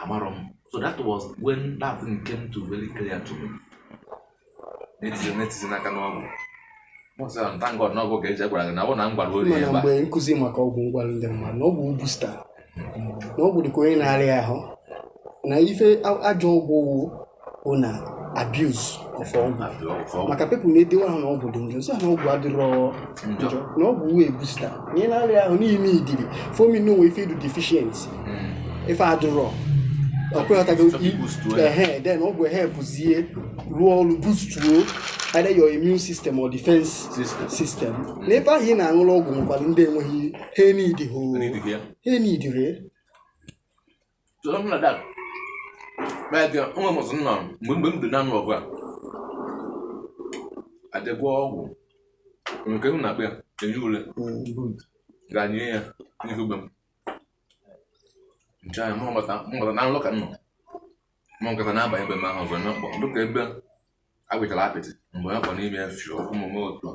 Speaker 7: amarọ m so that was when that thing came to very clear to me na it is na it is n'aka n'ọgwụ thank God na ọgwụ ka e ji gwara gị na ọ bụ na m gwara ori ebe a mgbe nkụzi maka
Speaker 2: ọgwụ m gwara ndị mmadụ na ọgwụ booster na ọgwụ dịka onye na-arịa ahụ na ife ajọ ọgwụ wụ na abuse of ọgwụ maka people na-edewe ahụ na ọgwụ dị njọ m sị na ọgwụ adịrọ njọ na ọgwụ wụ a booster na ị na-arịa ahụ na ị needịrị ife ọ mean na o nwe ife ị dị deficient hmm. ife adịrọ okay ị ghọtago ehe then ọgwụ ehelpuzie rụọ ọrụ boostuo either your immune system or defense system, system. Mm. n'ebe ahụ ị na-aṅụrụ ọgwụ nwekwara ndị enweghị ha enidihụ ha
Speaker 7: enidire
Speaker 2: So something
Speaker 7: like that. Like uh, nwa m ọzọ nna m, mgbe mgbe m dị na-aṅụ ọgwụ a, adịgwa ọgwụ nke m na-akpa ya eyi ule ga nye ya n'ihu be m. Nche anya mụ mata mụ mata na n'ụlọ ka m nọ. Mụ nkata na-abanye ebe m ahụ ọzọ na mkpọ dịka ebe agwụchara apịtị mgbe ya kpọ n'ime ya fio ụmụ m otu a.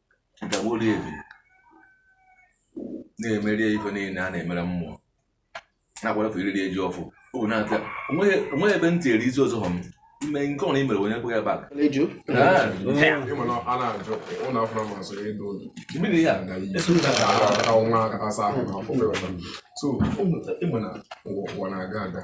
Speaker 7: ga wolu ebi na-emeri ife niile a na-emere mmụọ na-agwarafe iriri e ji ọfọ ọ bụ na-abịa o nweghị ebe ntị eri isi ọzọ m ime nke ọrụ i mere onye kweghị
Speaker 6: back mmiri
Speaker 7: ya
Speaker 6: so ịma na ụwa na-aga aga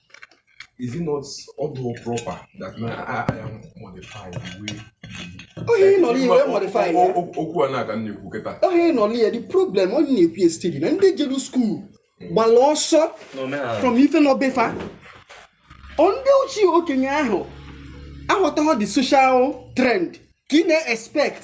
Speaker 6: is it not although proper that na anyị amodify the way ọ ihe ị
Speaker 2: nọrọ wee modify ya okwu a na-aga na-ekwu
Speaker 6: kịta ọ ihe ị nọrọ ya the
Speaker 2: problem ọ na-ekwu ya steady na ndị jere school gbara ọsọ from ife nọ be fa ndị ochie okenye ahụ aghọtaghọ the social trend ka ị na-expect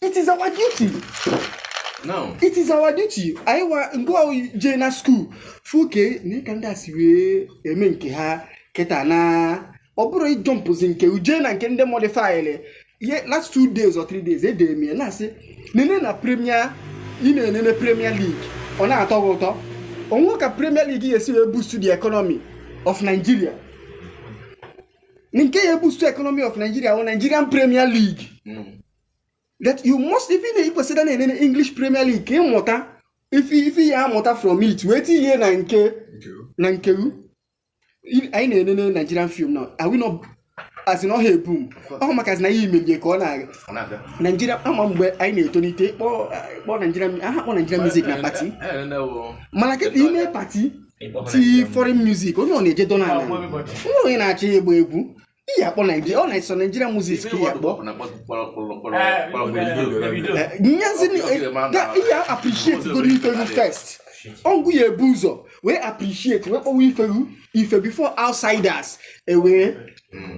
Speaker 2: it is our duty
Speaker 7: now it is our
Speaker 2: duty anyị wa ngwa jee na school fụ ka nee ka ndị a si wee eme nke ha kịta na ọ bụrọ ịjumpuzi nke uje na nke ndị modifylị ihe last two days or three days edere m ya na-asị nene na premier ị na-enene premier league ọ na-atọ gị ụtọ o nwe ka premier league ga-esi wee boost the economy of nigeria nke ya boost economy of nigeria wụ nigerian premier league that you must even na i kwesịrị na-enene English Premier League ka ị mụta ife ife ị ya-amụta from it wee tinye na nke na nke gụ anyị na-enene Nigerian film now are we not as in ọ na-eboom ọ bụ maka na ihe imelie ka ọ na-aga Ọ na-abịa. Nigeria ama mgbe anyị na-etolite kpọọ kpọọ Nigeria aha akpọ Nigerian music na party Anyị na-ene wo. mana kịta i mee party tie foreign music onye ọbụna eje dọla ala nwa onye na-achọ ịgba egwu ị ya-akpọ Nigeria ọ na-eso Nigerian music ị ya-akpọnyezinụ ị ya-appreciate godu ife gụ first ọ gụ ya-ebu ụzọ wee appreciate wee kpọwa ife gụ ife before outsiders ewee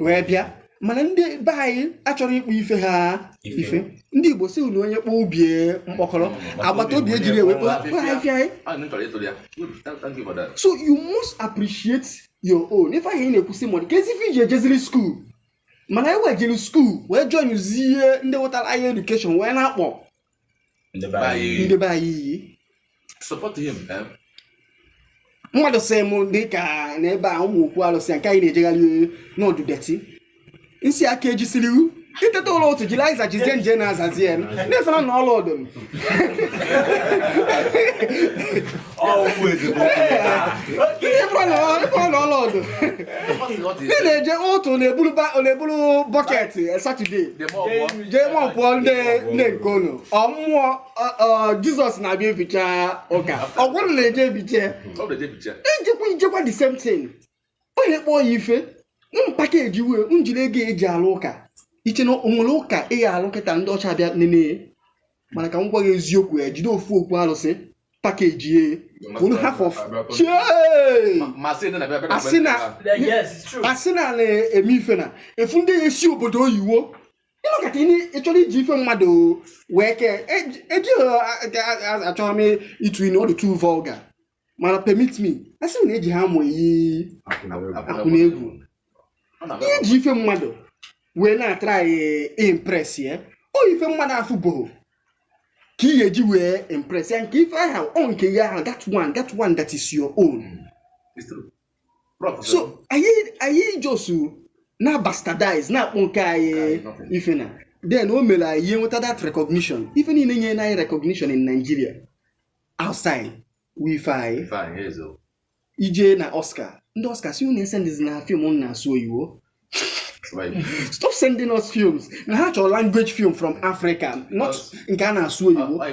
Speaker 2: wee bịa mana ndị be anyị achọrọ ịkpọ ife ha ife ndị Igbo sị na onye kpọọ ọba ya mkpọkọrọ mm, agbata obi ejiri ya wee kpoo ahịfịa anyị so you must appreciate your own, n'ife ahụ ị na-ekwusi mmadụ ka ezi ife iji ejeziri school mana e wee jiri school wee joinụzie ndị wetara anyị education wee na-akpọ ndị be anyị iyi eh? mmadụ sị m dị ka n'ebe a ụmụ okwu alụsị nke anyị na-ejegharị na ọ dụ dirty m sị a ka e jisiri iwu i teta ụla ụtụtụ jiri azịza jezie nje na-azazi ya na-esara na all of them all of them ndị na-eje otu na-eburu bucket eh, Saturday jee mọpụọ ndị nke unu ọ bụ Jesus na-abịa efịcha ụka ọ wụ unu na-eje efiche ijikwa ijekwa the same thing onye kpọọ ya ife package ya well jiri ego e ji alụ ụka ị che na o nwere ụka ị ya-alụ kịta ndị ọcha bịa nene ya mana ka m gwa gị eziokwu e jide ofu okwu alụsị package ya unu half of chee asị na asị na na-eme ife na efu ndị ya-esi obodo oyiwo locate ya ị na-achọ iji ife mmadụ wee kee ejighị achọghị m ịtụ inu ọ dụ too vulgar mana permit me a sị na ejiha amụ eyi akwụna egwu i ji ife mmadụ wee na-atry impress ya ọ ife mmadụ afụbụrọ ka ị ga-eji wee impress ya nke ife ahụ ọ nke gị ahụ that one that one that is your own so anyị anyị just na-abastardize na-akpọ nke anyị ife and then o mere anyị aha enweta that recognition ife niile nye anyị recognition in Nigeria outside wụ ife anyị i je na Oscar ndị Oscar sị unu esendzina film na-asụ oyibo stop sending us films na ha chọrọ language film from Africa not nke a na-asụ oyibo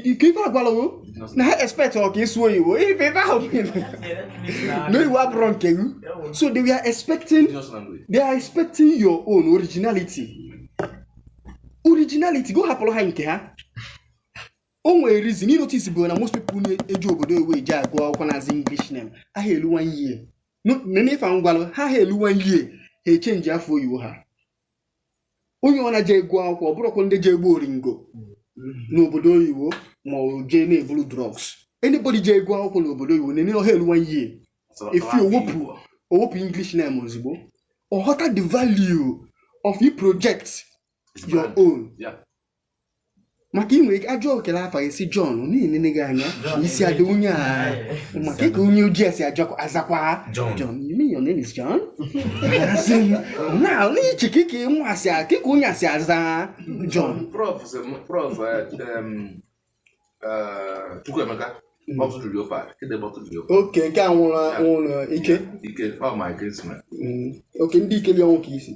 Speaker 2: ife a gwala wo na ha expect ọ ka ịsụ oyibo ife ife ahụ no iwu abụrọ nke gị so they were expecting they are expecting your own originality originality gị hapụrụ ha nke ha o nwere reason ịnotis bụ na most people na-eje obodo oyibo eje agụ akwụkwọ na-aza english name aha elu one year n'ife m gwalụ ha ha elu one year ha echenji afa oyibo ha onye ọ na-eje agụ akwụkwọ ọ bụrọkwa ndị je egbu oringo n'obodo oyibo ma ọ jee na-eburu drugs anybody je agụ akwụkwọ n'obodo oyibo nene ọ ha elu one year ị fụ o wepụ english name ozigbo ọ ghọta the value of you project your own Yeah. maka ị nwere ike ajụọ kedụ afa ị sị Jọn na-enene gị anya sị adị onye a maka kịka onye ojii si azakwa Jọn you mean your name is John na n'iche ka ike ịmụ asị kịka onye a si aza Jọn prof
Speaker 7: prof Chukwuemeka okay nke a nwụrụ
Speaker 2: nwụrụ Ike
Speaker 7: okay
Speaker 2: Ndikelionwu ka i si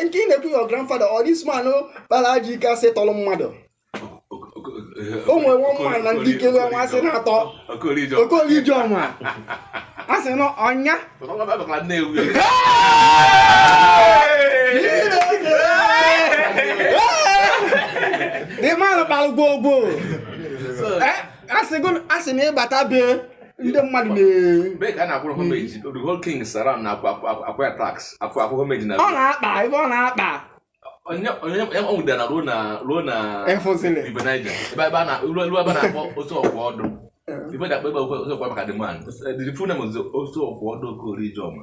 Speaker 7: nke ị
Speaker 2: na-ekwu your grandfather or this man kpara ajọ ike a sị tọrọ mmadụ o nwere one man na Ndikelionwu a sị na-atọ Okoli Ijeọma a sị na ọ ya the man kpara gwogwo a sị na ị bata be ndị mmadụ
Speaker 7: na-akpa ebe ọ na-akpa onye o nwude ruo na ruo na River
Speaker 2: Niger ebe
Speaker 7: ebe a na ruo ebe a na-akpọ otu ọgwụ ọ dị ife e ji akpọ ebe otu ọgwụ maka the man the full name is otu ọgwụ ọdụ Okoli Ijeọma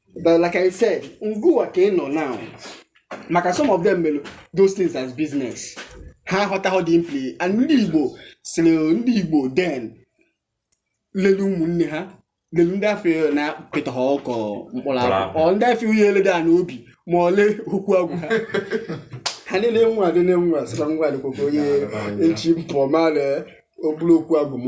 Speaker 2: but like i said ngụwa ka anyị nọ now maka some of them mere those things as business ha aghọtaghọ the impli and ndị igbo sịrị ndị igbo then lelu ụmụnne ha lelu ndị afọ na pịta ha ọkọ mkpụrụ akwụ ọ ndị afọ ihe eleda ha n'obi ma ọ lee okwu agwụ ha ha niile nwa adị na nwa sịkwa nwa adịkwakwa onye echi mpụ ma lee okpuru okwu agwụ m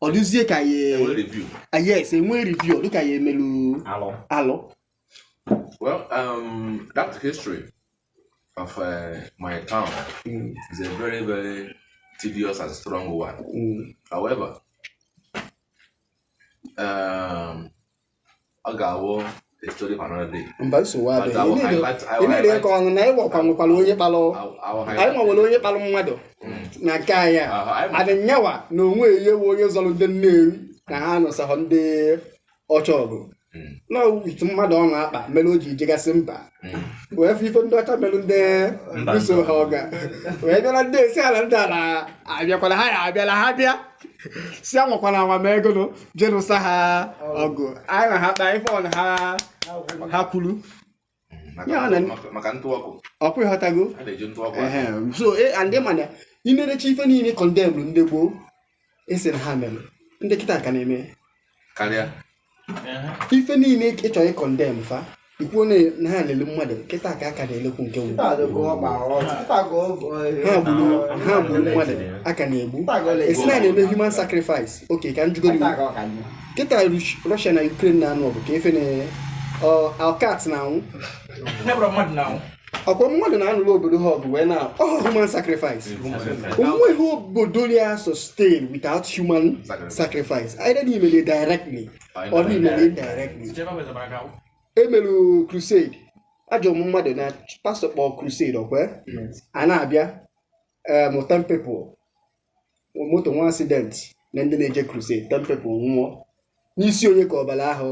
Speaker 2: ọ dịzie ka ya Enwe review. ah, yes enwe review ọ dịka ya emelu alụ. alụ
Speaker 7: Well, um, that history of uh, my town Mm, is a very, very tedious and strong one. mm, However, um, ọ ga-awụ a story for another day. mba nsogbu But I adịghị will Ị
Speaker 2: na-eri- highlight- I ị will na-eri highlight- ịkọ ọnụ na ịwa ọkwa nwekwara onye kpalụ I will- I will anyị highlight- nwewere onye kpalụ mmadụ na nke anyị a Aha, anyị ma- adị nyawa na onwe ya wụ onye zọrọ ndị nnewi na ha nụsahụ ndị ọcha ọgụ Mm. na ọ with mmadụ ọ na-akpa mere o ji jegasị mba wee fụ ife ndị ọcha melu ndị buso ha ọgụ wee bịara ndị esi ala ndị ala abịakwala ha ya abịala ha bịa sị anwakwala anwa ma ego nụ je nụsọ ha ọgụ anyị na ha kpa ife ọna ha ha kwuru Ya na-
Speaker 7: maka- maka ntụ ọkụ ọ kwa ị
Speaker 2: ghọtago a na-eji
Speaker 7: ntụ ọkụ Ehe, so e- and ị ma na
Speaker 2: i nerecha ife niile condemn ndị gboo a sị na ha mere ndị
Speaker 7: kịta
Speaker 2: ka na-eme karịa ife niile ị chọrọ ịcondemn fa i kwu na ha lele mmadụ kịta ka a ka na-elekwu nke wu ha gburu mmadụ a ka na-egbu a sị na a na-eme human sacrifice okay ka m jụọ gị kịta Russia na Ukraine na-anụ ọgụ ka efi na alkat na-anwụ ọ kwa mmadụ na-anụrụ obodo ha ọgụ wee na oh, human sacrifice o nweghị obodo ya sustain without human sacrifice either na i mere directly or na i mere indirectly e melu crusade a jụọ ụmụ mmadụ na pastor kpọọ crusade ọ kwa a na-abịa about ten people moto nwee accident na ndị na-eje crusade ten people nwụọ n'isi onye ka ọbara ahụ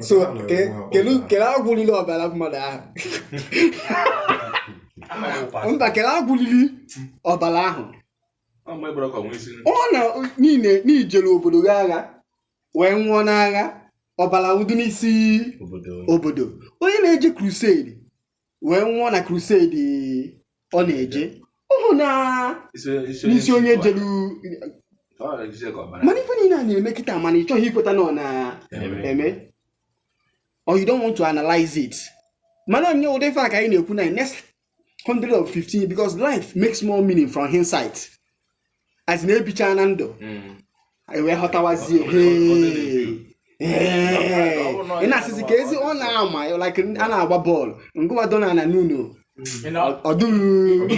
Speaker 2: so kele agwụ lili ọbara mmadụ ahụ mba kele agwụ lili ọbara ahụ ọ na niile na i jere obodo gị agha wee nwụọ n'agha ọbara ahụ dị n'isi obodo onye na-eje crusade wee nwụọ na crusade ọ na-eje ọ bụ n'isi onye jelu mana ife niile a na-eme kịta mana ị chọghị ikweta na ọ na-eme or you don't want to analyze it mana onye ụdị ife a ka anyị na-ekwu na next 100 or 50 because life makes more meaning from hindsight as in e bichana ndụ mm. anyị wee ghọtawazie ị na-asịzi ka ezi ọ na-ama like a na-agba bọọlụ ngịwa nọdụ ana n'ụnọ ọdụghị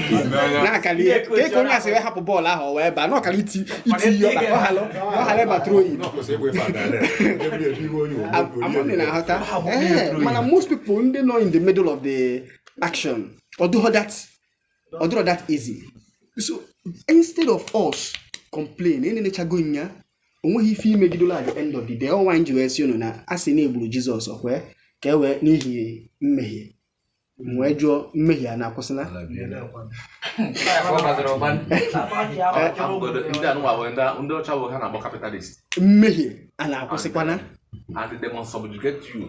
Speaker 2: na-akali ihe ka eke onye a si wee hapụ bọọlụ ahụ o wee baa na ọ kara iti iti ihe ọba ka ọ ghara ọ ghara ịbatụrụ oyi ama m ị na-aghọta ee mana most people ndị nọ in the middle of the action ọ dịrọ that ọ dịrọ that easy so instead of us complain na e nechago nya o nweghị ife i megidola at the end of the day ọnwa m ji wee sị unu na a sị na e gburu Jizọs ọ kwa ka e wee n'ihi mmehie m wee jụọ mmehie a na-akwụsịla ndị a nụnwa bụ ndị ndị ọcha bụ ha na-akpọ kapitalist mmehie a na-akwụsịkwana and the demon subjugate you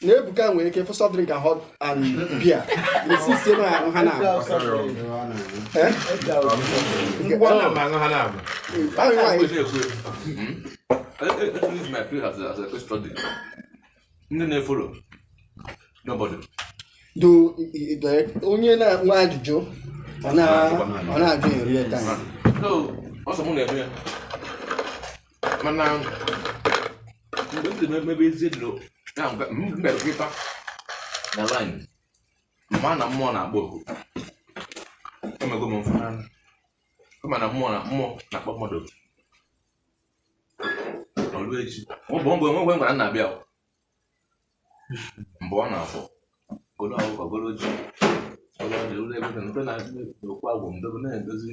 Speaker 2: na ebuka nwere ike fụ soft drink and hot and beer resist na ahụ ha
Speaker 7: na ndị na-efolo n'obodo
Speaker 2: do onye na-enwe ajụjụ ọ na-ajụ in real time
Speaker 7: mana mgbe m dị n'ebe ezi dị na mgbe m mere nkịta na laịn mgbe a na mmụọ na-akpọ m oku emego m mfụ n'anya kama na mmụọ na mmụọ na-akpọ mmadụ oku o lue echi ọ bụ mgbe enweghị ngwara nna abịa mgbe ọ na-afọ golo ọkụkọ golo ji ọlụ ọdị ụlọ ebe na mpe na-adị n'okwu agwụ mdobe na-edozi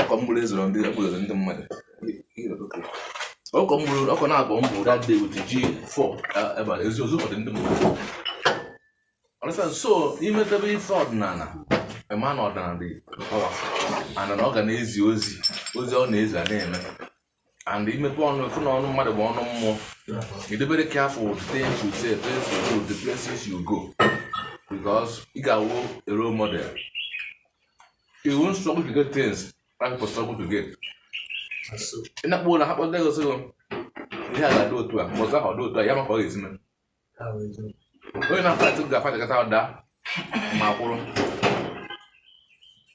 Speaker 7: ọkọ mgburu ezoro ndị egburu ndị mmadụ ọkọ mgburu ọkọ na-abụ mbụ that day with ji fọ ebe ezi ozi ọdị ndị mmadụ understand so imetebe ife ọdịnala ema na ọdịnala dị ọwa ana na ọ ga na-ezi ozi ozi ọ na-ezi a na-eme and imepe ọnụ efu na ọnụ mmadụ bụ ọnụ mmụọ ị dị very careful with things you say things you do the places you go because ị ga-awụ a role model you won't struggle to get things like people struggle to get ị na-akpọ na ha kpọta gị ị sịgo ihe a ga-adị otu a ma ọzọ ahụ ọ dị otu a ya ma ka ọ ga-esi mee onye na-afọ atụ ga-afọ chakata ọda ma kwụrụ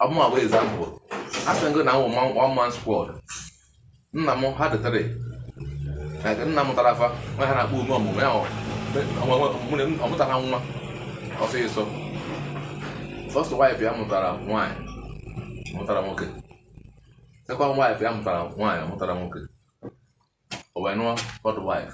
Speaker 7: ọ mụwa bụ example a sị m gị na m wụ one man squad nna m ha dị three nna m tara afa nwa ha na-akpọ ume ọmụmụ ya ọ mụtara nwa ọsịsọ first wife ya mụtara nwaanyị mụtara nwoke second wife ya mụtara nwaanyị mụtara nwoke o wee nụọ third wife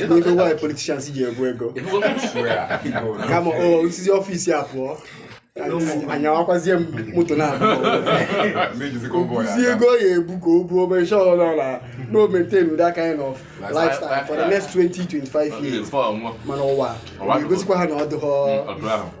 Speaker 2: Ego nwaanyị politicians ji egbu
Speaker 7: ego kama
Speaker 2: o sizi office a pụọ anyawakwazie m moto na si ego ya ebu ka o buo obere sure nọ na no maintain that kind of lifestyle for the next 20 25 years mana ụwa egosikwa ha na ọ dịghọ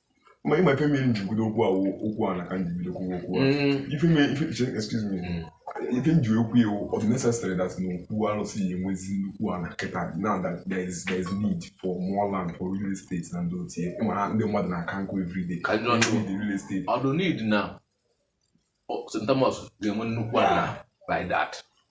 Speaker 6: ma ịma ife mere nji bido okwu a okwu ana ka nji bido kwuo okwu a mm. ife mere ife excuse me mm. ife nji ekwu ya ọ dị necessary that na okwu arụsị ya enwezi nnukwu ana kịta now that there is there is need for more land for real estate na ndị otie ịma ha ndị mmadụ na-aka nkụ everyday need the real
Speaker 7: estate ọ dị need
Speaker 6: na
Speaker 7: St. Thomas ga-enwe nnukwu ala by that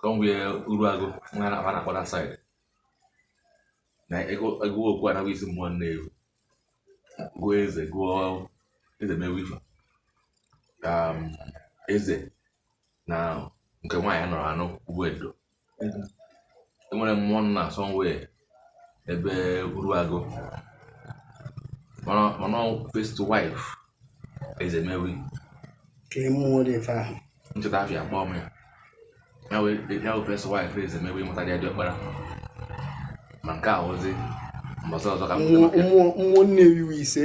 Speaker 7: Somewhere Uruagu, nwa na na kwara side. Na ego ego okwu ana bụ isi mmụọ Nnewi. Gụọ eze gụọ Ezemewi fa. Ka um, eze na nke nwaanyị nụrụ anụ bụ Edo. Enwere mmụọ nna somewhere ebe Uruagu mana first wife Ezemewi ka
Speaker 2: ịmụọ dị ife ahụ m cheta afa ya
Speaker 7: kpọọ m ya ya wee first wife Ezemewi mụtara ya dị ọkpara ma nke a wụzi mbọsị ọzọ ka mmụọ
Speaker 2: Nnewi wụ isi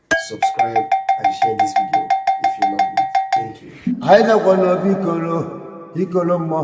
Speaker 1: subscribe and share this video if you love it thank you anyị nọkwa n'obi Igolo Igolo mmụọ